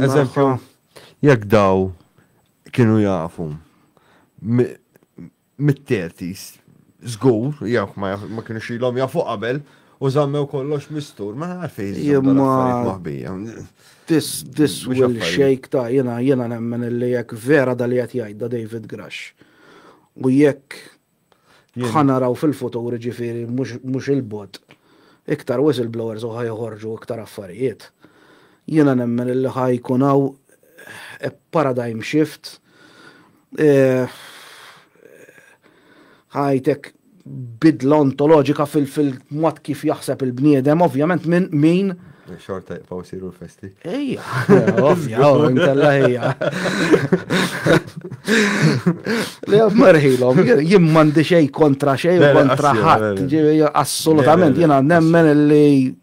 Eżempju, jek daw kienu jafu mit-thirties, żgur, jekk ma kinux ilhom jafu qabel, u żammew kollox mistur, ma għalfejn jżommu maħbija. This, this will shake ta' jena, jena nemmen li jekk vera da li qed jgħidda David Grash. U jekk ħanaraw fil-futur ġifiri mhux il-bot, iktar whistleblowers u ħajħorġu iktar affarijiet. Jiena nemmen li ħajkun hawn eh, paradigm shift Eh, ħajtek bidla ontoloġika fil-mod kif jaħseb il-bniedem, ovvjament minn min. Xorta jibqaw siru l-festi. Ejja, ovvja, intella ejja. Le, marħilom, jim mandi xej kontra xej, kontra ħadd, assolutament, jena nemmen li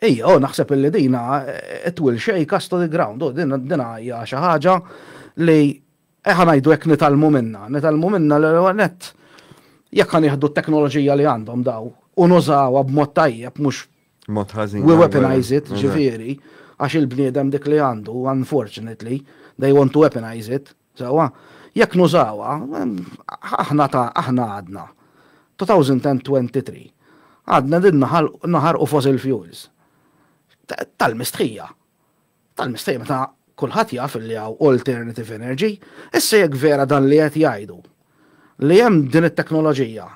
Ejja, u naħseb illi dina eh, it will shake us to the ground, u dina dina hija xi ħaġa li eħa eh, ngħidu hekk nitalmu minna, nitalmu minna l għanet jekk kan jieħdu t-teknoloġija li għandhom daw u nużawha b'mod tajjeb mhux mod ħażin. We weaponize it, ġifieri, għax il-bniedem dik li għandu, unfortunately, they want to weaponize it. Sewwa, jekk nużawha, aħna ta' aħna għadna, 2023, għadna qegħdin naħarqu fossil fuels. Tal-mistħija. Tal-mistħija meta kulħadd jaf li hawn alternative energy. Issa jekk vera dan li qed jgħidu, li hemm din it-teknoloġija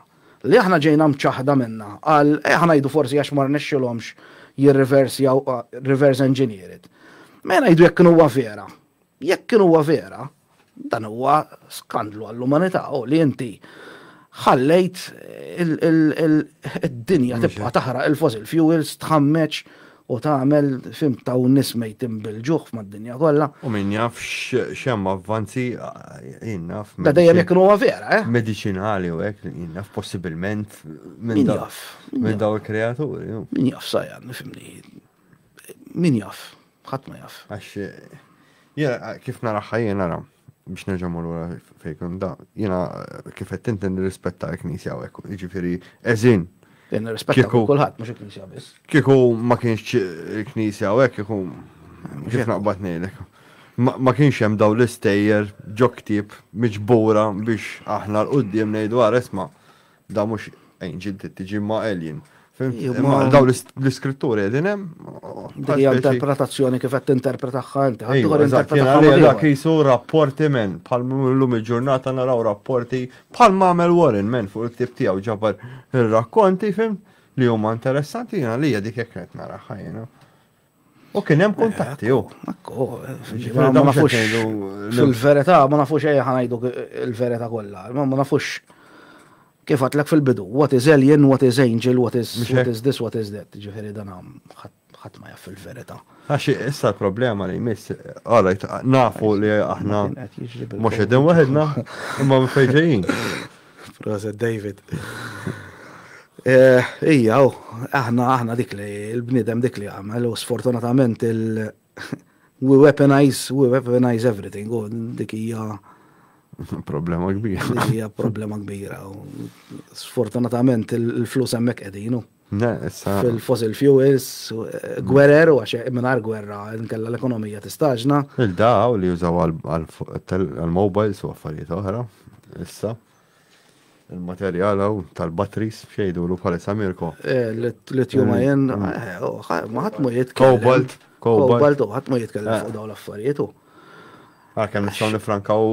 li aħna ġejna mċaħħda minnha għal, ejja ngħidu forsi għax ma rnexxilhomx jirriversjaw, reverse engineer it. Mela ngħidu jekk kienu huwa vera, Jekk kien huwa vera, dan huwa skandlu għall-umanità u li inti ħallejt id-dinja tibqa' taħraq il-fossil fuels tħammeġ u tagħmel fim ta' nies mejtin bil-ġuħ mad-dinja kollha. U min jaf x'hemm avvanzi jien naf. Da dejjem jekk huwa vera, eh? Mediċinali u hekk jien naf possibilment minn dawk minn dawk il-kreaturi. Min jaf sajja nifhimni. Min jaf. Ħadd ma jaf. Għax jiena kif naraħħa jiena nara biex nerġa' mmur wara fejn da, jiena kif qed tinti nirrispetta l-Knisja hawnhekk, jiġifieri eżin. Nirrispetta kulħadd mhux il-Knisja biss. Kieku ma kienx il-Knisja hawnhekk kieku kif naqbad ngħidlek. Ma kienx hemm dawn l-istejjer ġo ktieb miġbura biex aħna l-qudiem ngħidu ara isma' Da mhux angel trid tiġi ma' alien. Imma daw l-iskritturi qegħdin hemm. Dik interpretazzjoni kif qed tinterpretahha inti. Ħaddieħor interpretazzjoni. Dak jisu rapporti men, bħal llum il-ġurnata naraw rapporti bħal mamel Warren men fuq il-ktib tiegħu ġabar ir-rakkonti fim li huma interessanti jiena li dik hekk qed naraħħa jiena. U kien hemm kuntatti u. Ma nafux il-verità, ma nafux ejja ħanajdu il-verità kollha, ma nafux kif għatlek fil-bidu, what is alien, what is angel, what is, what is this, what is that, ġifiri dan ħadd ma jaff il-verità. Għaxi, issa l-problema li jmiss, għalajt, nafu li aħna mux edin waħedna, imma mfejġejin. Proset David. Eh, ija, u, aħna, aħna dik li, il-bnidem dik li għamel, u sfortunatament il- we weaponize, we weaponize everything, u dik ija. Problema kbira. Ija problema kbira, u sfortunatament il-flus emmek edinu. fil-fossil fuels, gwerer u għax mingħajr gwerra nkella l-ekonomija tistaġna. Il-daw li jużaw għall-mobiles u affarijiet oħra issa. Il-materjal hawn tal-batteries x'jgħidulu bħalissa Mirko? Lithium ion, ma ħadd ma jitkellem. Cobalt. Cobalt, ħadd ma jitkellem fuq dawn l-affarijiet. Għalkemm nistgħu nifrankaw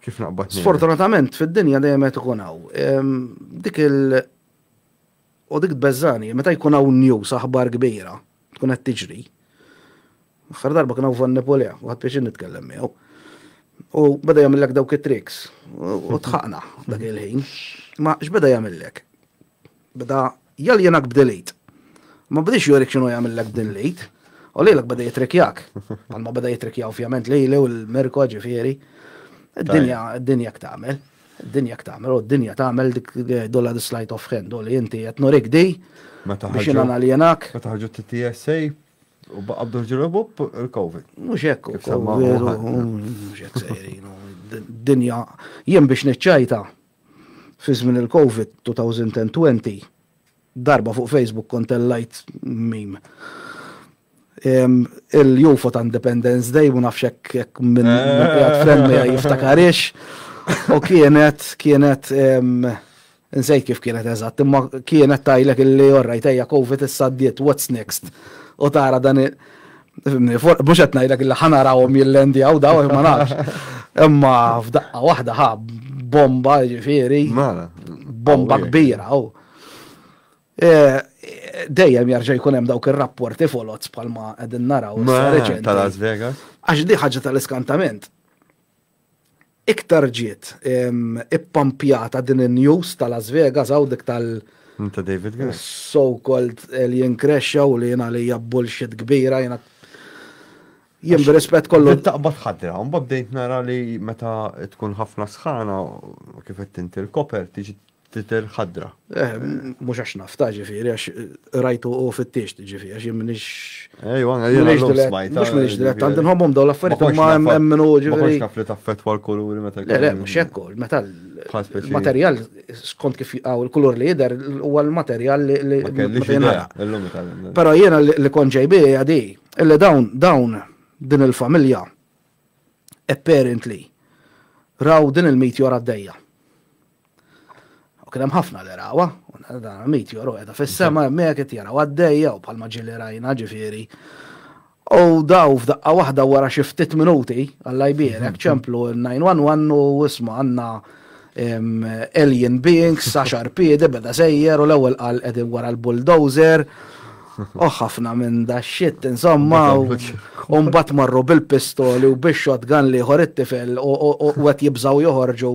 Kif naqbad Sfortunatament fid-dinja dejjem qed ikun hawn. Ehm, dik il- u dik tbeżżani, meta jkun hawn news aħbar kbira, tkun qed tiġri. Aħħar darba kien hawn Van Nepolea, u ħadd biex nitkellem miegħu. U beda jagħmillek dawk it-tricks u tħaqna dak il-ħin. Ma x'beda jagħmillek? beda jaljenak b'din l-id. Ma bdiex jurik x'inhu jagħmillek b'din l-id, u lilek beda jitrikjak. Palma beda jitrikja ovvjament lili u l-Mirko ġifieri. Id-dinja, id-dinja ktagħmel. Id-dinja ktagħmel, u d-dinja tagħmel dik dolla dislajt of hand, u li inti qed nurik di biex jiena naljenak. Meta ħarġu t-TSA, u baqqa bdur ġirobu il-Covid. Mux ekk, mux ekk sejrin, dinja, jien biex nċajta, fi żmien il-Covid 2020, darba fuq Facebook kont tellajt meme. Il-UFO ta' Independence Day, ma nafx hekk minn qiegħed friend miegħi jiftakarix. U kienet, kienet, nsejt kif kienet eżatt, imma kienet tajlek illi orrajt ejja Covid issa ddiet, what's next? U tara dan Mhux qed ngħidlek li ħanarahom jillendjaw daw ma nafx. Imma f'daqqa waħda ħa bomba ġifieri. Mela. Bomba kbira. Oh. Eh, dejjem jarġa' jkun hemm dawk ir-rapporti folots bħalma qegħdin naraw. Tal-Las Vegas. Għax di ħaġa tal-iskantament. Iktar ġiet ippampjata din in-news ta' Las Vegas hawn dik tal- Ta' David Gray. So-called alien crash hawn li jien għalija bullshit kbira jiena jien b'rispett kollu. Taqbad ħadra, mbagħad bdejt nara li meta tkun ħafna sħana kif qed inti l-koper tiġi tidher ħadra. Eh, mhux għax nafta, ġifieri, għax rajtu u fittixt, ġifieri, għax jimminix. Ejwa, eh, għajja, mux smajta. Mux minix dirett, għandin homom daw l-affarijiet ma jemminu ġifieri. Ma konx naf li taffetwa l-kuluri meta. Le, le, mux jekku, meta l-materjal, skont kif għaw il-kulur li jider, u l-materjal li. Pero jena li konġejbi għadi, illi dawn, dawn, din il-familja, apparently, raw din il-meteor għaddejja. U kien hemm ħafna li rawa, u dan meteor u qiegħda fis-sema hemmhekk qed jaraw għaddejja u bħalma ġieli rajna ġifieri. U daw f'daqqa waħda wara xi ftit minuti, Alla jbierek, ċemplu n-911 u isma' għandna alien beings, saxar piedi, beda sejjer u l-ewwel qal qegħdin wara l-bulldozer. U ħafna minn da shit, insomma, u mbagħad marru bil-pistoli u bix-shotgun li ieħor it-tifel u qed jibżgħu joħorġu.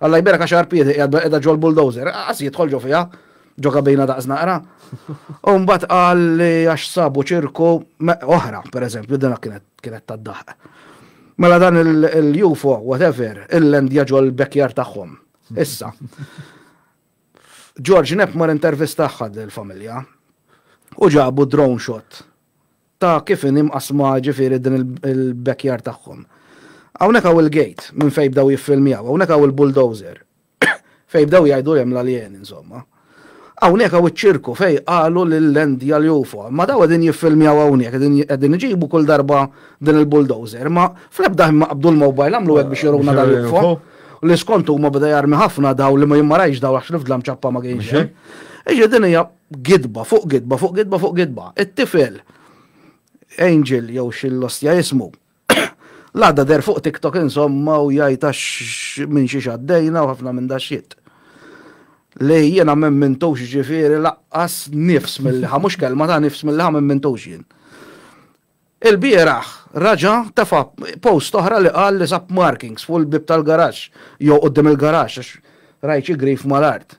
Alla jberak għax Arpiede qiegħed qiegħda ġol bulldozer, qas jidħol ġo fiha, ġo kabina daqs naqra. U mbagħad qal li għax sabu ċirku oħra, pereżempju, din kienet kienet tad-daħq. Mela dan il-UFO, whatever, il-lendja ġol bekjar tagħhom. Issa. George Nepmar intervistaħħad l-familja u ġabu drone shot ta' kif inhi mqassma jiġifieri din il-backyard tagħhom. Hawnhekk hawn il-gate minn fejn bdew jiffilmjaw, hawnhekk hawn il-bulldozer fejn bdew jgħidu li hemm l-aljeni insomma. Hawnhekk hawn iċ-ċirku fejn qalu li l-land hija l-UFO. Imma dawn qegħdin jiffilmjaw hawnhekk, qegħdin qegħdin iġibu kull darba din il-bulldozer, imma fl-ebda ħin ma qabdu l-mobile għamlu hekk biex juruna dal-UFO. U li skont huma beda jarmi ħafna dawn li ma jien ma rajtx dawn għax l-fdla mċappa ma kienx hemm. Jiġifieri din hija Gidba fuq gidba fuq gidba fuq gidba. It-tifel Angel jew x'illostja jismu. L-għada deher fuq TikTok insomma u jgħid għax minn xiex għaddejna u ħafna minn daxxit. Li jiena m'emmintux ġifieri laqqas nifs milli ħa mhux kelma ta' nifs milli ħa m'emmintux jien. Ilbieraħ raġa' tefa' post oħra li qal li sab markings fuq il-bieb tal-garaxx jew quddiem il-garaxx għax rajt xi grif mal-art.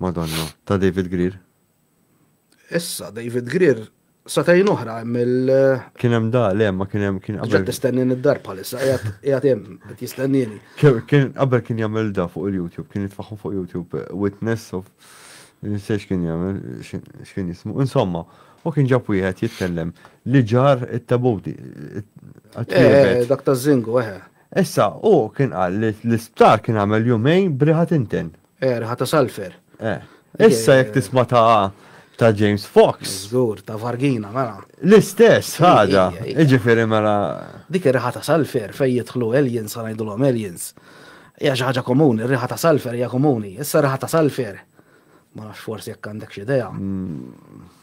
Madonna, ta' David Greer. Issa, David Greer, satajn oħra hemm il- Kien hemm da, le, ma kien hemm kien qabel. Ġed tistennin id-dar bħalissa, qiegħed hemm, qed jistennini. Kien qabel kien jagħmel da fuq il-YouTube, kien jitfaħħu fuq YouTube Witness of Nsejx kien jagħmel, x'kien jismu. Insomma, u kien ġab wieħed jitkellem li ġar it-tabuti. Eh, dak ta' Zingu, eh. Issa, hu kien qal li l-isptar kien għamel jumejn b'riħa tinten. Eh, riħa ta' sulfur. Eh. Issa jekk tisma' ta' ta' James Fox. Żgur, ta' vargina, mela. L-istess ħaġa, jiġifieri mela. Dik ir-riħa ta' sulfur fejn jidħlu aliens sa ngħidulhom aliens. Hija xi ħaġa komuni, r-riħa ta' sulfur hija komuni. Issa riħa ta' sulfur. Ma nafx forsi jekk għandek xi idea. Mm.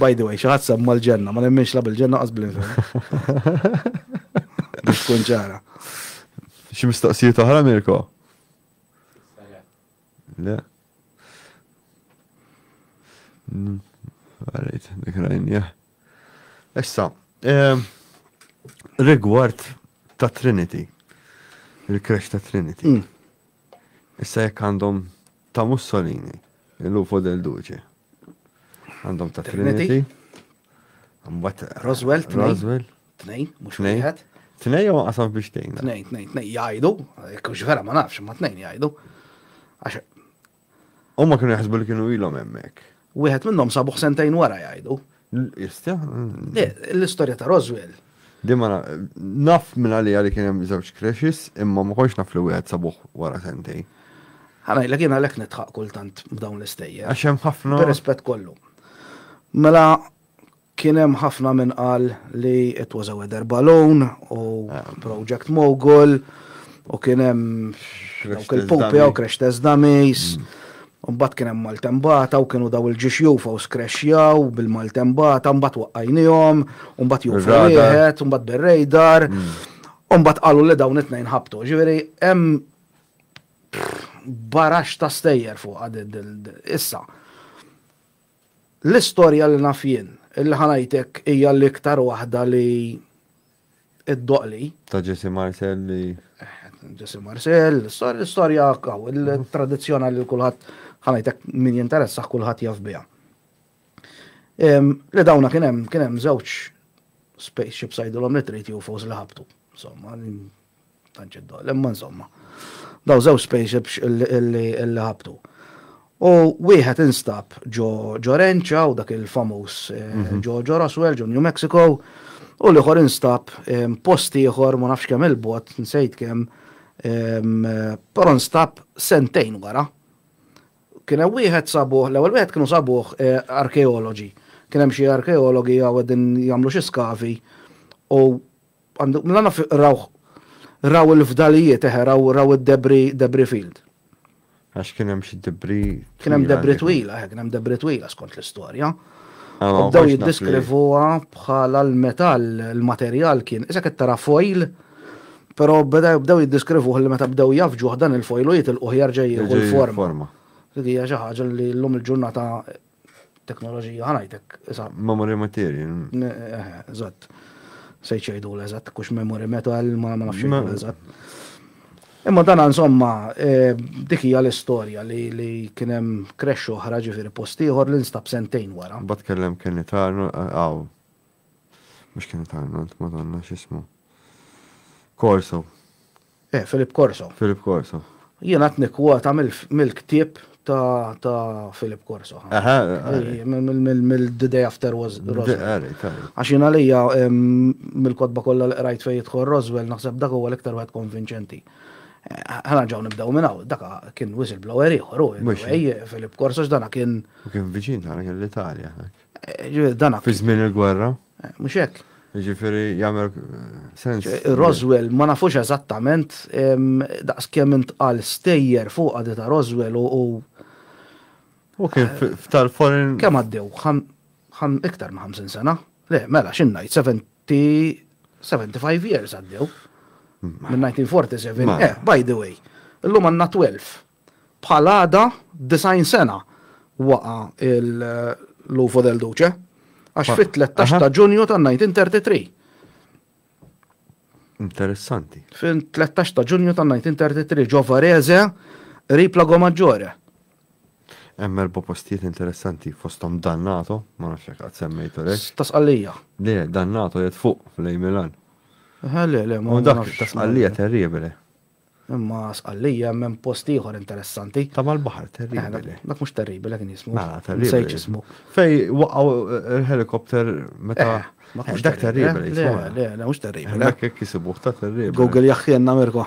By the way, xi ħadd semma l-ġenna, ma nemminx la bil-ġenna qas bl-infern. Biex tkun ċara. Xi mistoqsijiet oħra Mirko? Le. Għarajt, mm, dik rajnja. Issa, ehm, rigward ta' Trinity, il-kresh ta' Trinity. Mm. Issa jekk għandhom Ta' Mussolini, il Lupo del Duce. Għandhom ta' Trinity. Mbagħad Roswell, Roswell. Tnej, mhux wieħed. Tnej jew qasam biex tgħin. Tnej, tnej, tnej jgħidu, kux vera ma nafx, ma tnejn jgħidu. Għax. Huma kienu jaħsbu li kienu ilhom hemmhekk. Wieħed minnhom sabuh sentejn wara jgħidu. Jistja? L-istorja ta' Roswell. Dimma naf minn għalija li kien hemm żewġ crashes imma ma kontx naf li wieħed sabuh wara sentejn. Ħana jilek jiena lek nitħaq kultant b'dawn l-istejjer. Għax hemm ħafna. Rispett kollu. Mela Kien hemm ħafna min qal li it was a weather balloon u project mogul u kien hemm dawk il-pupi u crash test dummies. Mbagħad kien hemm maltembata u kienu daw il-ġiex jufa u skrexjaw bil-maltembata, mbagħad waqqajnihom, mbagħad jufa wieħed, mbagħad bir-radar. Mbagħad qalu li dawn it-tnejn ħabtu. Ġifieri hemm baraxx ta' stejjer fuqha din issa. L-istorja li naf jien, li ħa ngħidlek hija l-iktar waħda li ddoqli. Ta' Jesse Marcel li. Jesse Marcel, l-istorja kaw, il-tradizzjonali li kulħadd ħa ngħidlek min jinteressah kulħadd jaf biha. Li dawna kien hemm kien hemm żewġ spaceships għidilhom li trid UFOs li ħabtu. Insomma, Tant xi ddoqq, imma insomma. Dawn żewġ spaceships li ħabtu. U wieħed instab ġo Renċa u dak il-famuż ġo Roswell, ġo New Mexico, u l-ieħor instab post ieħor ma nafx kemm 'il bogħod, nsejt kemm, però nstab sentejn wara. Kien hemm wieħed sabuh, l-ewwel wieħed kienu sabuh arkeologi. Kien hemm xi arkeologi hawn qegħdin jagħmlu xi skavi u Għandu, mela naf rawh, raw il-fdalijiet, eħe, raw, raw id-debris, debris field. Għax kien hemm xi debris. Kien hemm debris twila, eħe, kien hemm debris twila skont l-istorja. Ah, U bdew jiddeskrivuha bħala l-metall, il-materjal kien, iżek qed tara foil, però beda- bdew jiddeskrivuh li meta bdew jafġuh dan il-foil u jitilquh jarġa' jieħu l-forma. Forma. Dik hija xi ħaġa li llum il-ġurnata Teknoloġija ħanajtek, isa. Memory material. Eżatt. Se jċejdu l-eżatt, kux memory metal, ma nafx l-eżatt. Imma dan insomma, eh, dik hija l-istorja li li kien hemm crash oħra ġifieri post ieħor li nstab sentejn wara. Bad kellem kien itarnu għaw. Mhux kien itarnu, madonna x'ismu. Korsu. Eh, Philip Corso. Philip Corso. Jien għat nikkwota mill-ktieb ta' Philip Corso. Aha. Mill-The Day After was Roswell. Għax jien għalija mill-kodba kollha li qrajt fejn jidħol Roswell naħseb dak huwa l-iktar wieħed konvinċenti. Ħana ġaw nibdaw minn hawn, daka kien whistleblower ieħor u Philip Corso x'dana kien. Kien viċin tagħna kien l-Italja. Dana. Fi żmien il-gwerra. Mhux hekk? Jiġifieri jagħmel sens. Roswell ma nafux eżattament daqskemm intqal stejjer fuqha di ta' Roswell u u U kien f'tal-foreign. Kemm għaddew? Iktar minn 50 sena? Le, mela x'in ngħid 70 75 years għaddew. Minn 1947. Eh, by the way, illum għandna 12 Bħal għada 90 sena waqa' l-UFO del Duce, għax fit-tlettax ta' Ġunju tan-1933. Interessanti. Fit-tlettax ta' Ġunju tan-1933 ġo Varese, qrib Lago Maggiore. Hemm erba' postijiet interessanti fosthom Dannato, ma nafx jekk qatt semmejtu lek. Tasqallija. Le, Dannato jgħid fuq fl-Ej Milan. Le, le, ma. U dak tasqallija terribile. Imma Sqallija hemm post ieħor interessanti. Ta' mal-baħar, terribili. Dak mhux terribili kien jismu. Mela, terribili. Nsejt x'ismu. Fej waqgħu il-helikopter meta. Ma tkunx dak terribili. Le, le, le, mhux terribili. Dak hekk isibuh ta' terribili. Google jaħħienna Mirko.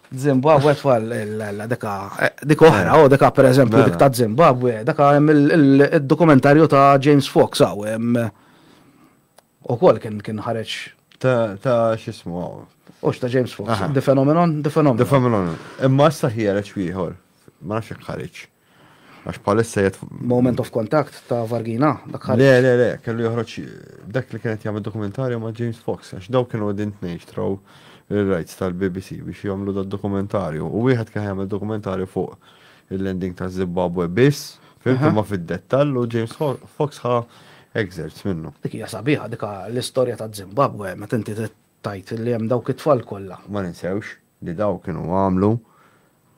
Zimbabwe tfal deka dik oħra, u deka pereżempju dik ta' Zimbabwe, deka hemm il-dokumentarju ta' James Fox hawn hemm. Ukoll kien kien ħareġ. Ta' ta' x'ismu hawn. Hux ta' James Fox. Aha. The Phenomenon, The Phenomenon. The Phenomenon. Imma issa ħiereġ ieħor. Ma nafx jekk ħareġ. Għax bħalissa jgħid. Moment of Contact ta' Vargina, dak ħareġ. Le, le, le, kellu joħroġ dak li kien qed jagħmel dokumentarju ma' James Fox, għax dawn kienu qegħdin tnejn xtraw ir-rights tal-BBC biex jagħmlu dad-dokumentarju. U wieħed kien jagħmel dokumentarju fuq Il-landing ta' Zimbabwe biss, fim imma fid-dettall u James Fox ħa excerpts minnu. Dik hija sabiħa dik l-istorja ta' Zimbabwe meta inti tajt li hemm dawk it-tfal kollha. Ma ninsewx li dawn kienu għamlu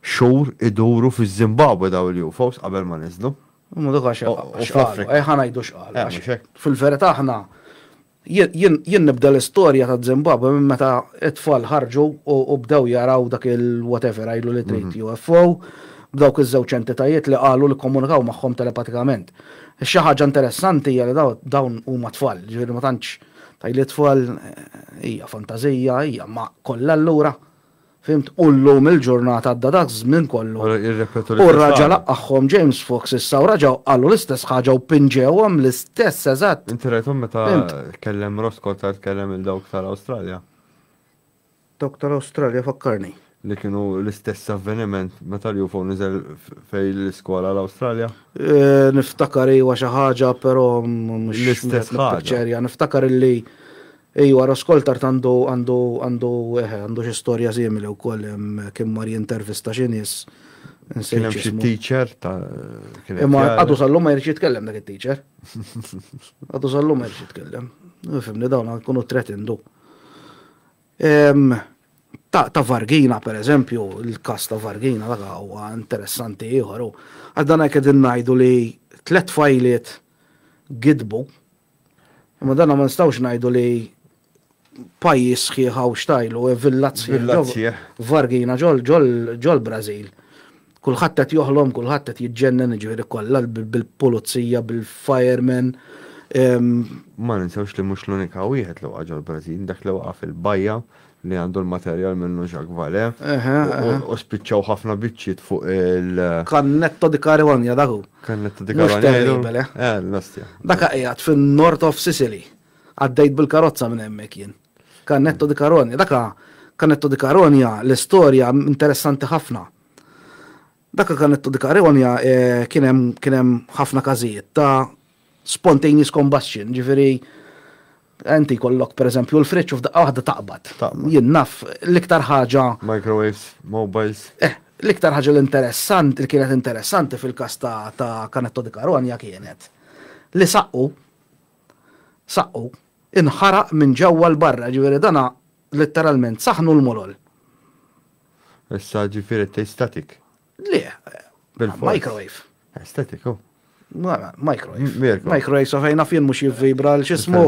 xhur iduru fiż-Zimbabwe dawn il-UFOs qabel ma niżlu. Imma dak għax x'qalu, ejja ħa ngħidu x'qalu. Fil-verità aħna Jien nibda l-istorja taż-Żimbabwe minn meta t-tfal ħarġu u bdew jaraw dak il-whatever għidlu li trid, UFO, b'dawk iż-żewġ entitajiet li qalu li kkomunikaw magħhom telepatikament. Xi ħaġa interessanti hija li dawn huma tfal, jiġifieri ma tantx tgħidli tfal, hija fantażija, hija, imma kollha allura? Fhimt? U llum il-ġurnata għadda dak iż-żmien kollu. U raġa' laqagħhom James Fox issa u raġa' qalu l-istess ħaġa u pinġewhom l-istess eżatt. Inti rajthom meta tkellem Ross Coulthart tkellem lil dawk tal-Awstralja? Dawk tal-Awstralja fakkarni. Li kienu l-istess avveniment meta l-UFO niżel fejn l-iskola l-Awstralja? Niftakar iwa xi ħaġa però mhux. L-istess ħaġa. Niftakar illi. Ejwa Ross Coulthart għandu għandu għandu eħe għandu xi storja simili wkoll kien mar jintervista xi nies. Kien hemm xi teacher ta' Imma għadu sallu ma jirċi jitkellem dak it-teacher. Għadu sallu ma jirċi jitkellem. Fimni dawn għankunu tretindu. Ta' ta' Vargina per eżempju, il-kas ta' Vargina dak huwa interessanti ieħor. Għaddan hekk qegħdin ngħidu li tlet fajliet gidbu Imma dan ma nistgħux ngħidu li pajjiż sħiħ hawn xtajlu, e villat sħiħ. Vargina ġol-Brażil. Kulħadd qed joħlom, kulħadd qed jiġġennen ġifieri kollha bil-pulizija, bil-firemen. Ma ninsewx li mhux l-unika wieħed li waqa' ġol-Brażil, dak li waqa' fil-bajja li għandu l-materjal minnu Jacques Vallée, u spiċċaw ħafna biċċiet fuq il-. Cannetto di Caronia dak hu. Cannetto di Caronia. Mhux terribile, eh? Eh, l-ostja. Dak qiegħed fin-North of Sicily. Għaddejt bil-karozza minn hemmhekk jien. Cannetto di Caronia, dak Cannetto di Caronia l-istorja interessanti ħafna. Dakka Canetto di Careonia kien hemm kien hemm ħafna każijiet ta' spontaneous combustion, jiġifieri inti jkollok pereżempju l-friġġ u f'daqqa waħda taqbad. Taqbad. Jien naf l-iktar ħaġa. Microwaves, mobiles. Eh, l-iktar ħaġa l-interessant li kienet interessanti fil-każ ta' ta' Canetto di Caronia kienet li saqqu saqqu inħaraq minn ġewwa 'l barra, jiġifieri dana Letteralment, saħnu l-mulol. Issa ġifiri t static. Le, microwave. Eh, static, oh. Mara, microwave. Microwave, so fejna fien mux jivvibra l-xismu.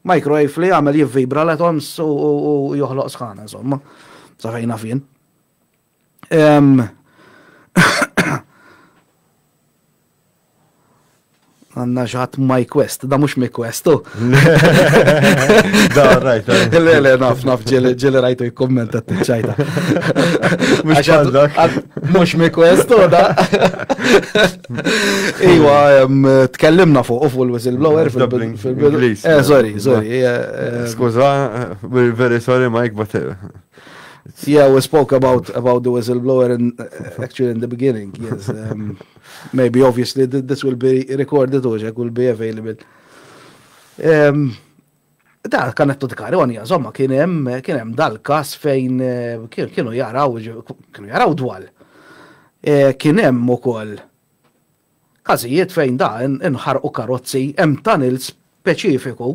Microwave li għamel jivvibra l-atoms u joħloq sħana, insomma. Sa fejna fien. Għanna xaħat my quest, da mux my quest, u. Da, rajt. Le, le, naf, naf, ġili rajtu jikkommenta t-ċajta. Mux ċadak. Mux my quest, u da. Iwa, tkellimna fuq, ufu l-whistleblower fil-bil. Eh, sorry, sorry. Eh, eh, Skuza, we're very sorry, Mike, but. Eh, Yeah, we spoke about about the whistleblower in uh, actually in the beginning. Yes, um, maybe obviously this will be recorded or it will be available. Um, da kan qed tkaroni insomma kien hemm kien hemm dal-każ fejn eh, kienu jaraw kienu jaraw dwal. Eh, kien hemm ukoll Każijiet fejn da inħarqu karozzi hemm tunnel speċifiku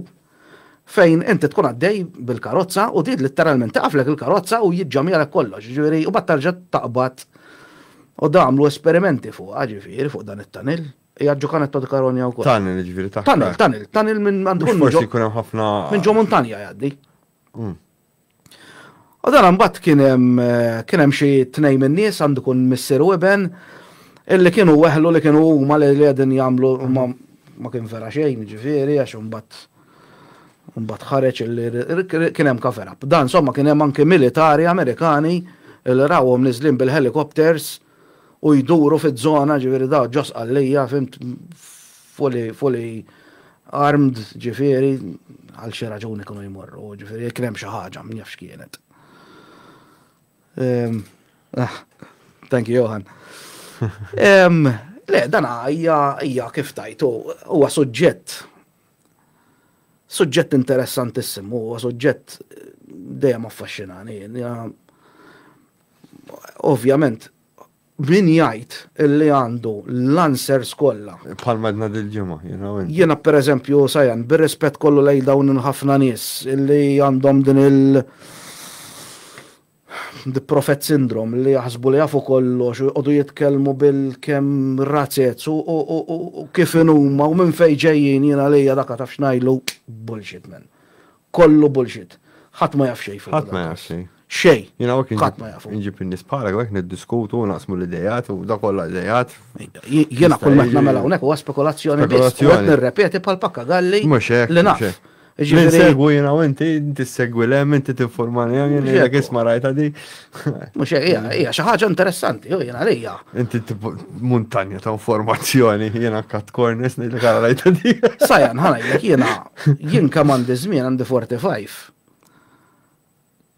fejn inti tkun għaddej bil-karozza u din litteralment tiqaflek il-karozza u jiġġamjalek kollox, jiġifieri u mbagħad terġa' taqbad u da għamlu esperimenti fuqha ġifieri fuq dan it-tunnel. Hija Giocanetto di Caronia wkoll. Tunnel jiġifieri taħt l-art. Tunnel, tunnel, tunnel minn għandu jkun minn ġo. Mhux forsi jkun hemm ħafna. Minn ġo muntanja jgħaddi. U dan mbagħad kien hemm kien hemm xi tnejn min-nies għandu kun missier u iben illi kienu weħlu li kienu huma li qegħdin jagħmlu ma kien vera xejn ġifieri għax imbagħad imbagħad ħareġ illi kien hemm cover up. Dan somma kien hemm anke militari Amerikani li rawhom niżlin bil-helicopters u jduru fiż-żona, ġifieri daw ġo Sqallija, fhimt, fully, fully armed, ġifieri, għal xi raġuni kienu jmorru, ġifieri jekk kien hemm xi ħaġa, min jaf x'kienet. Ehm, ah, thank you, Johan. Ehm, le, dan hija kif tajtu, huwa suġġett Suġġett interessantissimu, huwa suġġett dejjem affaxxinani. Ovvjament, min jgħid li għandu l-answers kollha. Bħal madna dil-ġimgħa, you know. Jiena pereżempju sajan bir-rispett kollu lejn dawn il-ħafna nies li għandhom din il- The Prophet Syndrome, li jaħsbu li jafu kollox u jqogħdu jitkellmu bil kemm razez u kif inhuma u minn fejn ġejjin jien għalija dak taf x'ngħidlu bullshit man. Kollu bullshit. Ħadd ma jaf xejn fuq dan. Ħadd ma jaf xejn. Xejn. Jien hawnhekk ħadd ma jafu. Inġib in-nies bħalek hawnhekk niddiskutu u naqsmu l-idejat u dak kollha idejat. Jiena kull ma qed nagħmel hawnhekk huwa spekulazzjoni biss. Spekulazzjoni. Qed nirrepeti bħal pakkagalli li naf. Ġifieri segwu jiena u inti, inti segwi le, inti tinformani hemm jien jgħidlek isma' rajta di. Mhux hija xi ħaġa interessanti, jew jiena għalija. Inti muntanja ta' informazzjoni jiena kat kornis ngħidlek għal rajta di. Sajan ħanajlek jiena jien kemm għandi żmien għandi 45.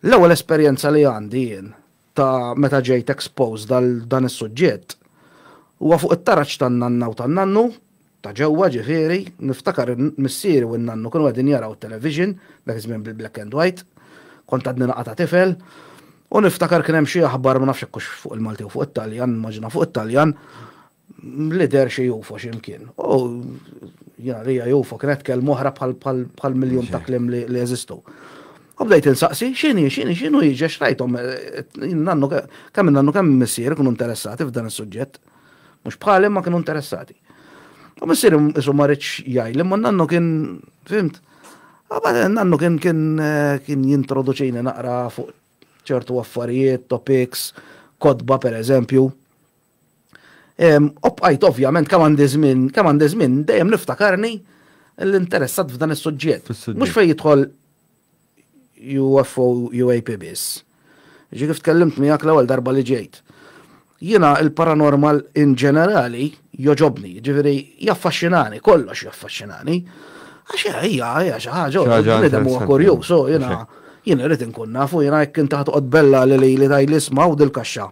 L-ewwel esperjenza li għandi jien ta' meta ġejt exposed għal dan is-suġġett huwa fuq it-taraġ tan-nanna u tan-nannu, ta' ġewwa ġifieri, niftakar missieri u n-nannu kienu qegħdin jaraw it-television, dak iż-żmien bil-black and white, kont għadni naqa' ta' tifel, u niftakar kien hemm xi aħbar ma nafx jekk hux fuq il-Malti jew fuq it-Taljan, nimmaġina fuq it-Taljan, Mlider xi jufo xi mkien. U jena li jufo kienet kelma oħra bħal miljun ta' klim li jeżistu. U bdejt insaqsi, xini, xini, xinu jiġi, xrajtom, nannu, kemm nannu kemm missier kunu interessati f'dan is-suġġett. Mhux bħali ma kienu interessati. U missier isu ma rridx jgħid, imma nannu kien, fimt, Għabad, nannu kien kien kien jintroduċini naqra fuq ċertu affarijiet, topics, kodba per eżempju. U bqajt ovvjament kemm għandi żmien, kemm għandi żmien dejjem niftakarni l-interessat f'dan is-suġġett. Mhux fejn jidħol UFO UAP biss. Ġi kif tkellimt miegħek l-ewwel darba li ġejt. Jiena il-paranormal in ġenerali joġobni, ġifieri jaffaxxinani, kollox jaffaxxinani. Għax hija hija xi ħaġa bniedem huwa kurjuż, jiena jien irid inkun nafu jiena jekk inti ħatoqgħod bella li li tgħidli isma' u dil-kaxxa.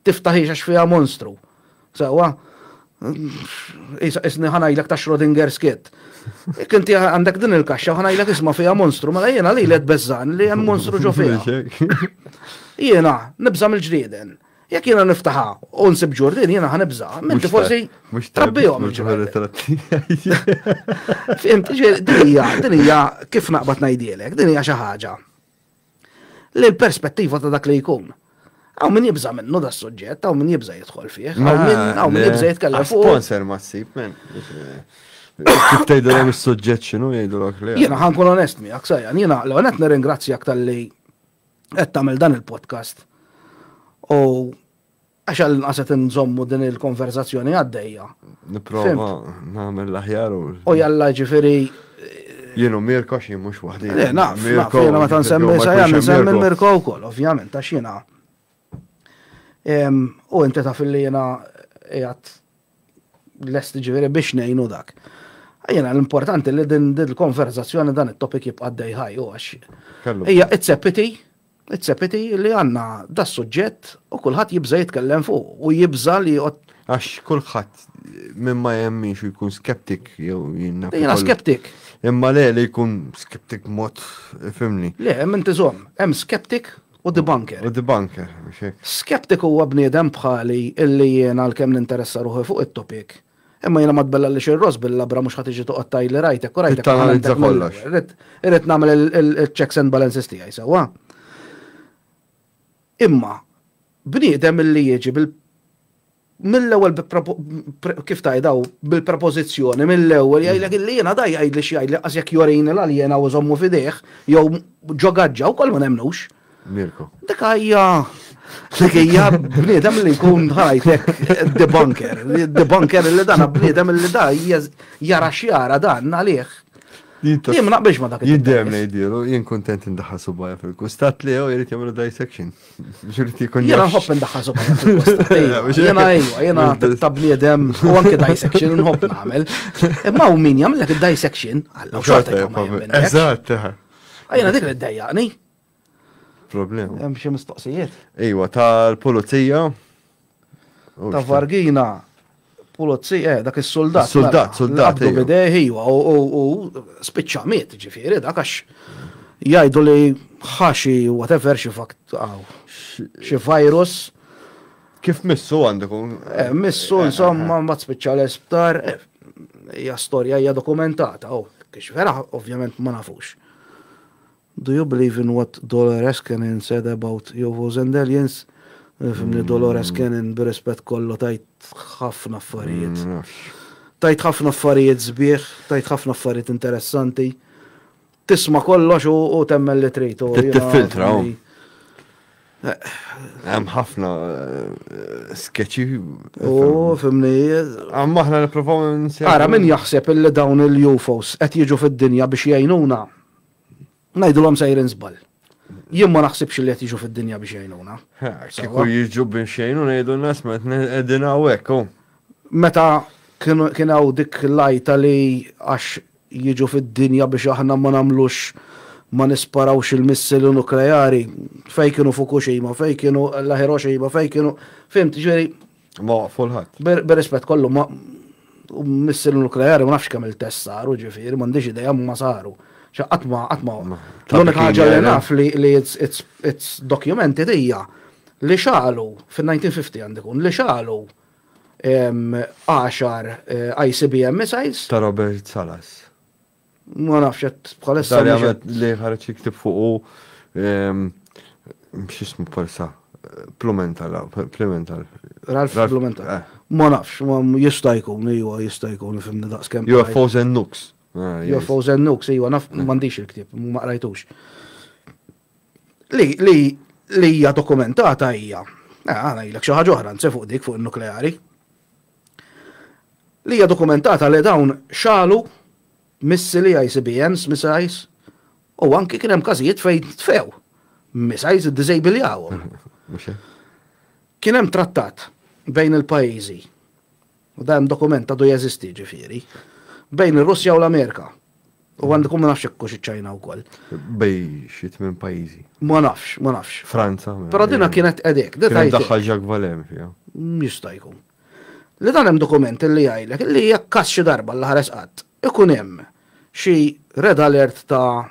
Tiftaħiex għax fiha monstru. Sewwa? Isni ħanajlek ta' Schrodinger's cat. Jekk inti għandek din il-kaxxa ħanajlek isma' fiha monstru, mela jiena li led beżżan li hemm monstru ġo fiha. Jiena nibża' mill-ġrieden. Jekk jiena niftaħa u nsib ġurdin jiena ħanibża, minti forsi trabbihom. Fimt, dinija, dinija kif naqbad ngħidilek, dinija xi ħaġa. l-perspettiva ta' dak li jkun. Għaw min jibza minnu da' suġġett, għaw min jibza jidħol fih, għaw min jibza jitkellem fuq. Sponsor ma s-sib, men. Kif tajdu għam il-sujġet xinu jgħidu l-ok li. Jena ħankun onest mi, għaksajan, jena l-għanet nirringrazzjak tal-li għed tamil dan il-podcast. U Għax għall-inqas qed inżommu din il-konverzazzjoni għaddejja. Nipprova nagħmel l-aħjar u. U jalla ġifieri Jienu Mirko xi mhux waħdi. Le, naf, Mirko. Jiena meta nsemmi sajja nsemmi Mirko wkoll, ovvjament, għax jiena. U inti taf li jiena qiegħed lest ġifieri biex ngħinu dak. Jiena l-importanti li din il-konverzazzjoni dan it-topik jibqa' dejħaj u għax. Hija it's a pity It's a pity li għandna das-suġġett u kulħadd jibża' jitkellem fuqu u jibża' li joqgħod. Għax kulħadd min ma jemmix jkun skeptik jew jinnaf. Jiena skeptik. Imma le li jkun skeptik mod fimni. Le, hemm inti żomm, hemm skeptik u debunker. U debunker, biex hekk. Skeptik huwa bniedem bħali illi jiena għalkemm ninteressa ruħi fuq it-topic, Imma jiena ma tbellallix ir-ross bil-labra mhux ħa tiġi toqgħod tgħidli rajtek u rajtek. Irrid tanalizza kollox. Irrid nagħmel il-checks and balances tiegħi sewwa. Imma bniedem illi jiġi bil mill-ewwel kif tajdaw bil-propożizzjoni mill-ewwel jgħidlek illi jiena da jgħidli xi jgħidli qas jekk jorini l-aljena u żommu f'idejh jew ġo gaġġa wkoll ma nemmnux. Mirko. Dak hija dak hija bniedem li jkun ħajtek debunker, debunker li dan bniedem li da jara xjara dan għalih. Jien ma naqbilx ma dak. Jiddem li jdilu, jien kontent indaħħal subajja fil-kustat li jew jrid jagħmlu dissection. Xirti jkun. Jiena nħobb indaħħal subajja fil-kustat. Jiena ejwa, jiena ta' bniedem u anke dissection nħobb nagħmel. Imma hu min jagħmel dak id-dissection. Eżatt. Jiena dik li ddejjaqni. Problema. Hemm xi mistoqsijiet? Iwa, tal-pulizija. Ta' Vargina, pulizija, eh, dak is-soldat. Mela, soldat, soldat. Għabdu bidejh, iwa, u spiċċa miet, ġifieri, dak għax jgħidu li ħaxi, whatever, xi fakt, xi virus. Kif missu għandikum? Eh, missu, eh, insomma, eh, ma spiċċa l-isptar, hija storja hija dokumentata, u oh, kiex vera, ovvjament, ma nafux. Do you believe in what Dolores Cannon said about UFOs and aliens? Fimni Dolores Cannon bir-rispett kollu tgħid ħafna affarijiet. Tgħid ħafna affarijiet sbieħ, tgħid ħafna affarijiet interessanti. Tisma' kollox u temmen li trid. Tifiltra. Hemm ħafna eh, sketchy. U fimni. Għamma aħna nipprovaw Ara min jaħseb illi dawn il-UFOs qed jiġu fid-dinja biex jgħinuna. Ngħidilhom sejrin żball. Jien ma naħsibx li qed jiġu fid-dinja biex jgħinuna. Kieku jiġu biex jgħinu ngħidu n-nas ma qegħdin hawnhekk. Meta kien hawn dik l-għajta li għax jiġu fid-dinja biex aħna ma nagħmlux ma nisparawx il-missili nukleari, fej kienu Fukushima, fej kienu la Hiroshima, fej kienu, fimt, ġifieri, Ma waqfu l-ħadd. Bir-rispett kollu ma missir nukleari ma nafx kemm il-test saru ġifieri, m'għandix idea ma saru. Xa qatt ma qatt ma. L-unika ħaġa li naf li it's documented hija li xagħlu fin-1950 għandu jkun li xagħlu 10 ICBM missiles. Ta' Robert Salas. Ma nafx qed bħalissa. Li ħareġ jiktib fuqu ehm, x'ismu bħalissa Plumental, Plumental. Ralf Plumental. Eh. Ma nafx, ma jista' jkun, ejwa jista' jkun fimni daqskemm. UFOs and Nooks. Ah, UFOs and Nooks, ejwa naf eh. m'għandix il-ktieb, ma qrajtux. Li li li hija dokumentata hija. Eh, għana jilek xi ħaġa oħra nse fuq dik fuq il-nukleari. li hija dokumentata li dawn xagħlu missili ICBMs, missiles, u anki kien hemm każijiet fejn tfew missiles iddiżejbiljawhom. Kien hemm trattat bejn il-pajjiżi, u dan dokument għadu jeżisti ġifieri, bejn ir-Russja u l-Amerika. U għandkom ma nafx ekkux iċ-Ċajna wkoll. Bej xi tmien pajjiżi. Ma nafx, ma nafx. Franza. Però dina kienet qedek. Kien daħħal Jacques Valem fiha. Jista' jkun. Li dan hemm dokument li jgħidlek li jekk każ xi darba l-ħares qatt ikun hemm xi red alert ta'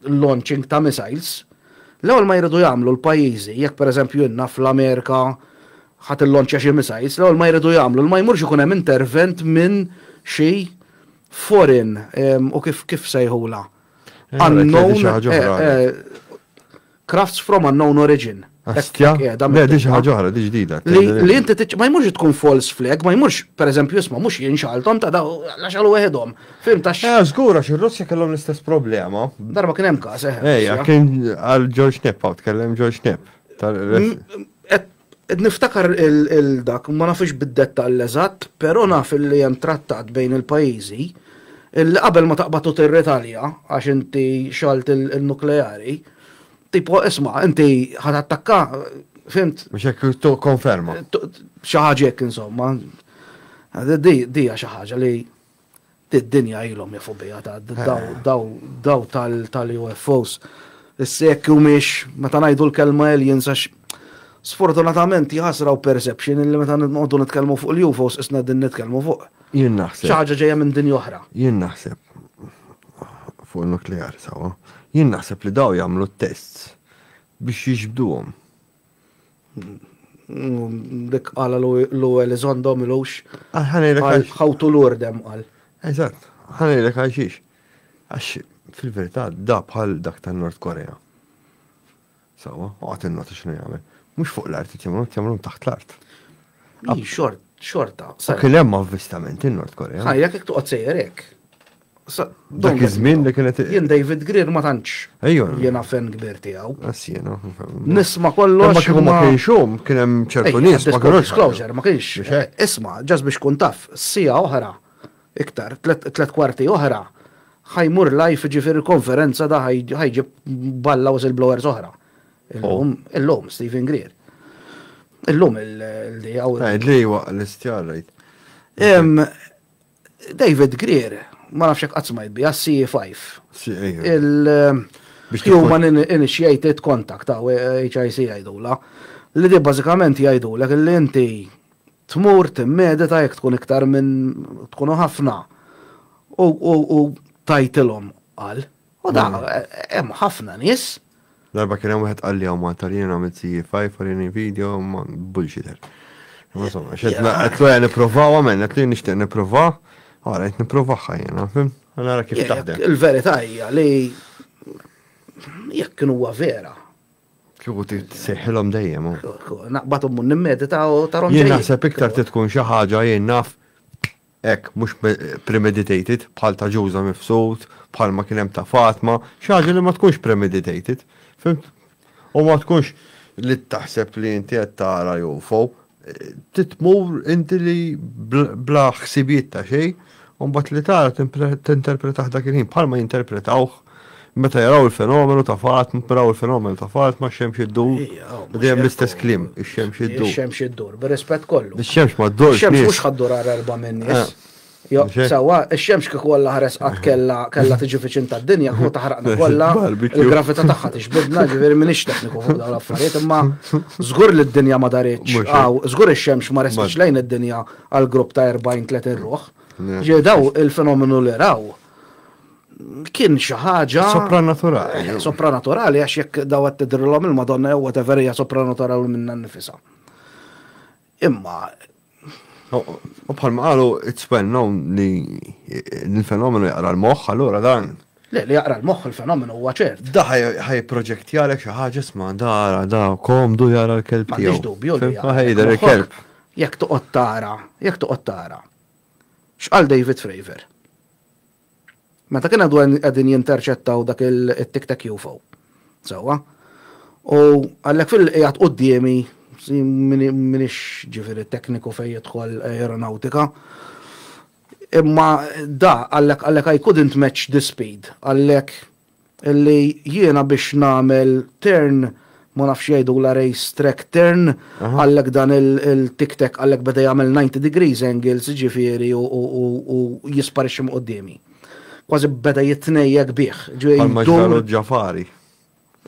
launching ta' missiles, l-ewwel ma jridu jagħmlu l-pajjiżi, jekk pereżempju inna fl-Amerika ħadd illonċja xi missiles, l-ewwel ma jridu jagħmlu li ma jmurx ikun hemm intervent minn xi foreign u kif kif sejħulha? Unknown. Crafts from unknown origin. Astja, le di xi ħaġa oħra, di ġdida. Li inti ma jmurx tkun false flag, ma jmurx, per eżempju, isma' mhux jien xaltom ta' daw laxalu weħedhom. Fim ta' xi. Eh, żgura xi Russja kellhom l-istess problema. Darba kien hemm każ, eh. Ejja, kien għal George Knepp hawn tkellem George Knepp. Qed niftakar il-dak, ma nafux bid-dettall eżatt, però naf li hemm trattat bejn il-pajjiżi li qabel ma taqbad u tirritalja għax inti xgħalt il-nukleari, tipo isma' inti ħa tattakka, fimt? Mhux hekk tikkonferma. Xi ħaġa hekk insomma. Di hija xi ħaġa li Id-dinja ilhom jafu biha daw tal-UFOs. Issa jekk humiex meta ngħidu l-kelma aliens għax sfortunatament jħasra u perception illi meta nqogħdu nitkellmu fuq l-UFOs isna din nitkellmu fuq. Jien naħseb. Xi ħaġa ġejja minn dinja oħra. Jien naħseb fuq nukleari sawa. Jien naħseb li daw jagħmlu t-tests biex jiġbduhom. Dik għala l-ewwel iżondo milux. Ħawtu l-ordem għal. Eżatt, ħanejlek għal xiex. Għax fil-verità da bħal dak ta' Nord Korea. Sawa, għat il-nota xinu jgħamil. Mux fuq l-art, jgħamlu jgħamlu taħt l-art. Xort, xorta. Sa kien hemm avvistament in-Nord Korea. Ħajja kik tuqgħod sejjerek. Dak iż-żmien li kienet. Jien David Greer ma tantx. Ejju. Jiena fan kbir tiegħu. Assiena. Nisma' kollox. Ma kieku ma kienx hum, kien hemm ċertu nies ma kienux. Disclosure, ma kienx. Isma', ġas biex kun taf, sija oħra, iktar, tlet kwarti oħra, ħajmur live ġifieri konferenza da ħajġib balla u blowers oħra. Illum, illum, Stephen Greer. Illum il-li għaw. Għajd li waqqa l-istjarrajt. David Greer, ma nafx hekk qatt smajt biha, CE5. Il-Human Initiated Contact, HIC jgħidula, li di bażikament jgħidulek li inti tmur timmedita jekk tkun iktar minn tkunu ħafna u tajtilhom qal. U da, hemm ħafna nies. Darba kien hemm wieħed qal li hawn Malta li jiena għamilt CFI farini video ma bullshitter. Insomma, xed qed lura nipprovaw għamel, qed li nixtieq nipprova, ara qed nipprovaha jiena, fim? Nara kif taħdem. Il-verità hija li jekk kienu huwa vera. Kieku seħħilhom dejjem. Naqbathom mun nimmedita u tarhom. Jien naħseb iktar titkun xi ħaġa jien naf hekk, mhux premeditated, bħal ta' Ġuża Mifsud, bħalma kien hemm ta' Fatma, xi ħaġa li ma tkunx premeditated, fimt? U ma tkunx li taħseb li inti qed tara UFO, trid tmur inti li bla ħsibijiet ta' xejn, u mbagħad li tara tinterpretah dak il-ħin bħalma jinterpretawh Meta jaraw il-fenomenu ta' fat, mpraw il-fenomenu ta' fat, ma' xemx id-dur, dejjem l-istess klim, ix-xemx id-dur. Ix-xemx id-dur, bir-rispett kollu. Ix-xemx ma' dur. Ix-xemx mhux ħaddur għar erba' minn nies. Sewwa, ix-xemx kieku Alla ħares qatt kellha kellha tiġi viċin tad-dinja, kieku taħraqna kollha, il-gravità tagħha tixbidna, ġifieri m'iniex tekniku fuq dawn l-affarijiet, imma żgur li d-dinja ma daritx hawn, żgur ix-xemx ma resqitx lejn id-dinja għal grupp ta' 40, 30 ruħ. Ġieli dawn il-fenomenu li raw, kien xi ħaġa. Sopranaturali. Eh, sopranaturali għax jekk daw qed tidrilhom il-Madonna jew whatever hija sopranaturali minna nifisa. Imma. U bħal ma qalu it's well known li l-fenomenu jaqra l-moħħ allura dan. Le, li jaqra l-moħħ il-fenomenu huwa ċert. Da ħaj proġetti għalek xi ħaġa isma' dara da komdu jara l-kelb tiegħu. M'għandix dubju li. Ħajder il-kelb. Jekk toqgħod tara, jekk toqgħod tara X'qal David Fravor? Meta kien għadu qegħdin jinterċettaw dak it-tic tac UFO. Sewwa. U għalhekk fil qiegħed quddiemi minix ġifieri tekniku fejn jidħol aeronautika. Imma da għalhekk għalhekk I couldn't match the speed għalhekk Illi jiena biex nagħmel turn, ma nafx jgħidulha race track turn, għallek dan il-tic tac għallek beda jagħmel 90 degrees angles ġifieri u jisparixxi minn quddiemi. Kważi beda jitnejjek bih. Bħalma ġrallu Ġafari.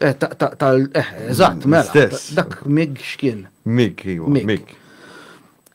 Eh, tal, eh, eżatt, mela. Dak mig x'kien? Mig, iva, mig.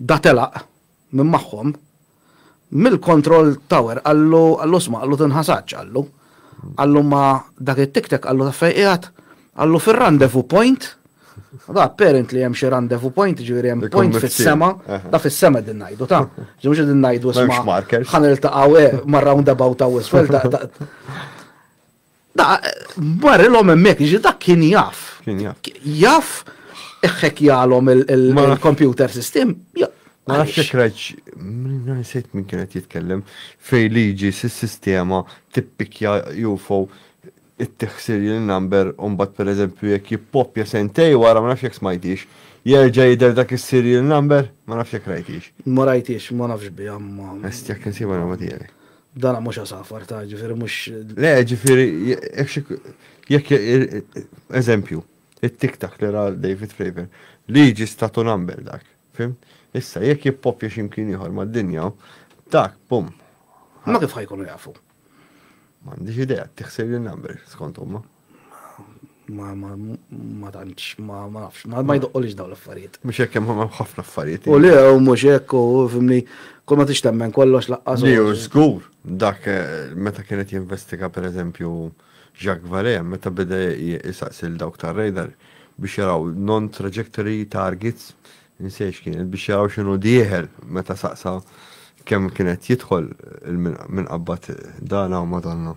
Da telaq minn magħhom, mill-kontroll tower qallu, qallu isma' qallu tinħasatx qallu, qallu ma' dak it-tiktek qallu taf fejn qiegħed, qallu fir-rendezvous point, da apparently hemm xi rendezvous point jiġifieri hemm point fis-sema, da fis-sema qegħdin ngħidu ta', ġifieri mhux qegħdin ngħidu isma' ħa niltaqgħu eh, mar-roundabout hawn isfel ta' Marrilhom hemmhekk, jiġi dak kien jaf. Kien jaf. Jaf eħħek jgħalhom il-computer system. Ma nafx jekk rajt nsejt min kienet jitkellem fej liġi s-sistema tippikja UFO it-tiħsir il-number u mbagħad pereżempju jekk jippopja sentej wara ma nafx jekk smajtix jerġa' jidher dak is-serial number, ma nafx jekk rajtix. Ma rajtix, ma nafx biha ma. Est jekk insiba nagħmel tiegħi. Dana mhux għasafar ta' ġifieri mhux. Le, ġifieri jekk eżempju, it-tiktak li ra David Fravor, liġi statu number dak, fim? Issa jekk jippopja x'imkien ieħor mad-dinja, dak pum. Ma kif ħajkunu jafu? M'għandix idea, tiħsir li number skont huma. Ma ma ma tantx ma ma nafx ma ma jdoqqolix dawn l-affarijiet. Mhux hekk hemm ħafna affarijiet. U le u mhux hekk u fimni kull ma tix temmen kollox laqqas. Le u żgur dak eh, meta kienet jinvestiga pereżempju Jacques Vallée meta beda jsaqsil dawk tar-radar biex jaraw non-trajectory targets insejx kienet biex jaraw x'inhu dieħel meta saqsa kemm kienet jidħol minn qabad dana u madonna.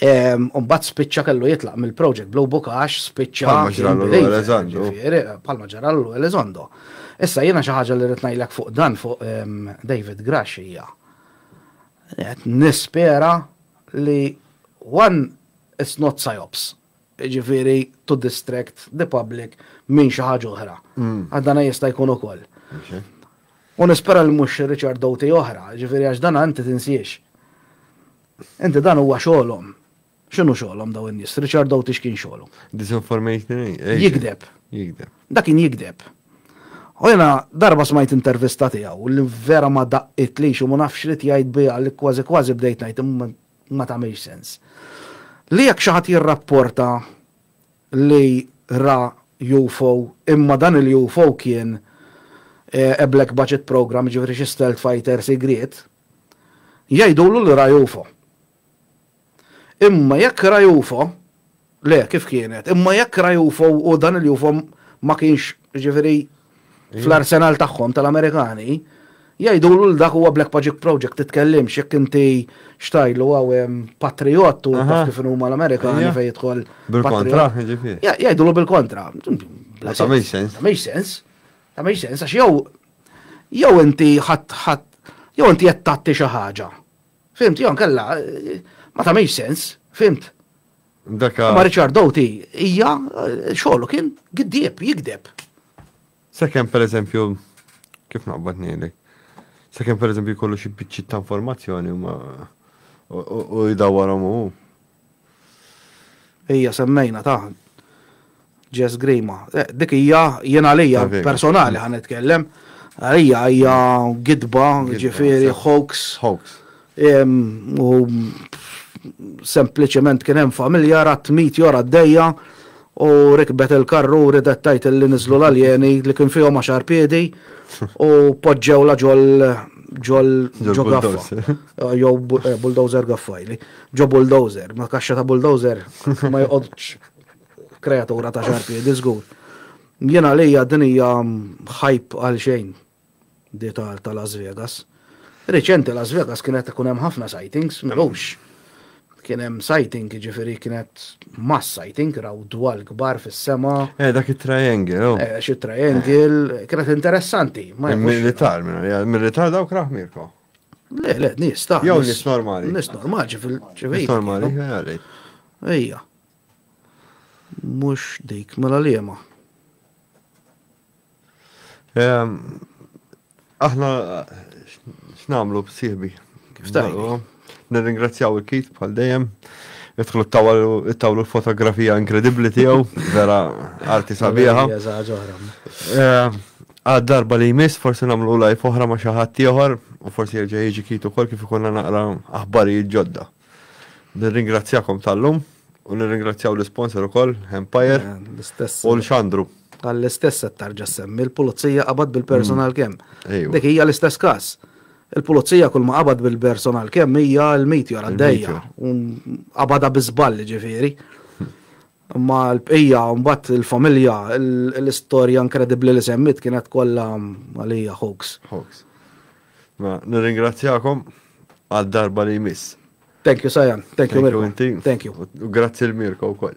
U mbagħad spiċċa kellu jitlaq mill-project Blue Book għax spiċċa. Palma ġra l Elizondo. Palma ġra l Elizondo. Issa jiena xi ħaġa li rrid ngħidlek fuq dan fuq David Grash hija. Qed nispera li one it's not psyops. jiġifieri to distract the public minn xi ħaġa oħra. Għax dan jista' jkun ukoll. U nispera li mhux Richard Doughty oħra, jiġifieri għax dan inti tinsiex. Inti dan huwa xogħolhom. X'inhu xogħolhom dawn in-nies? Richard Doughty x'kien xogħlu? Disinformation. Jigdeb. Jigdeb. Dak kien jigdeb. U jiena darba smajt intervista tiegħu li vera ma daqqit li xi ma nafx xrid jgħid biha li kważi kważi bdejt ngħid imma ma tagħmilx sens. Li jekk xi ħadd jirrapporta li ra UFO imma dan il-UFO kien a black budget programme, jiġifieri xi stealth fighter sigriet, jgħidulu li ra UFO. Imma jekk ra UFO, Le, kif kienet? Imma jekk ra UFO u dan il-UFO ma kienx ġifieri fl-arsenal tagħhom tal-Amerikani, jgħidulu l dak huwa Black Magic Project titkellimx jekk inti xtajlu għaw patriot u taf kif huma l-Amerikani fejn jidħol. Bil-kontra, ġifieri. Jgħidulu bil-kontra. Ma tagħmilx sens. Ma tagħmilx sens. Ma tagħmilx sens għax jew jew inti ħadd ħadd jew inti qed tagħti xi ħaġa. Fimt, jew kella ma tagħmilx sens, fimt. Daka. Ma Richard Doughty hija xogħlu kien giddieb, jigdeb. Sakemm pereżempju kif naqbad ngħidlek. Sakemm pereżempju jkollu xi biċċiet ta' informazzjoni ma u jdawwarhom hu. Ejja semmejna ta' Jess Grima. Eh, dik hija jien għalija personali ħan nitkellem. Għalija hija gidba, ġifieri hoax. Hoax. U sempliċement kien hemm familja rat mit jora d-dejja u rikbet il-karru u ridet tajt li niżlu l-aljeni li kien fihom għaxar piedi u poġġew la ġol ġol ġol gaffa. Jow eh, bulldozer gaffajli. Ġo bulldozer, ma kaxxa ta' bulldozer ma jqodx Kreatura ta' xarpiedi żgur. Jien għalija din hija ħajp għal xejn di ta' Las Vegas. Riċenti Las Vegas kienet ikun hemm ħafna sightings, mhux. Kien hemm sighting, ġifieri kienet mass sighting, raw dwal kbar fis-sema. Eh, dak it-triangle, oh. Eh, xi triangle, kienet interessanti. Militar, militar dawk raħ Mirko. Le, le, nis, ta' Jow nis normali. Nis normali, ġifil. Nis normali, għalli. Ija. Mhux dik, mela liema? Aħna x'nagħmlu b'sieħbi? Kif tgħidu? Nirringrazzjaw il-kit bħal dejjem. Idħlu tawlu l-fotografija inkredibbli tiegħu, vera arti sabiħa. Għad darba li jmiss, forsi nagħmlu lajf oħra ma' xi ħadd ieħor u forsi jerġa' jiġi kit ukoll kif ikunna naqra aħbarijiet ġodda. Nirringrazzjakom tal-lum u nirringrazzjaw l-isponsor ukoll, Empire u l-Xandru. Għall-istess qed tarġa' semmi l-pulizija qabad bil-personal kemm. Dik hija l-istess każ. Il-pulizija kull ma qabad bil-personal kemm hija l-meteor għaddejja. Qabada bi żball ġifieri. Imma l-bqija mbagħad il-familja l-istorja inkredibbli li semmit kienet kollha għalija hoax. Hoax. Ma nirringrazzjakom għal darba li jmiss. Thank you, Sajan. Thank you, Mirko. Thank you. Grazzi l-Mirko u koll.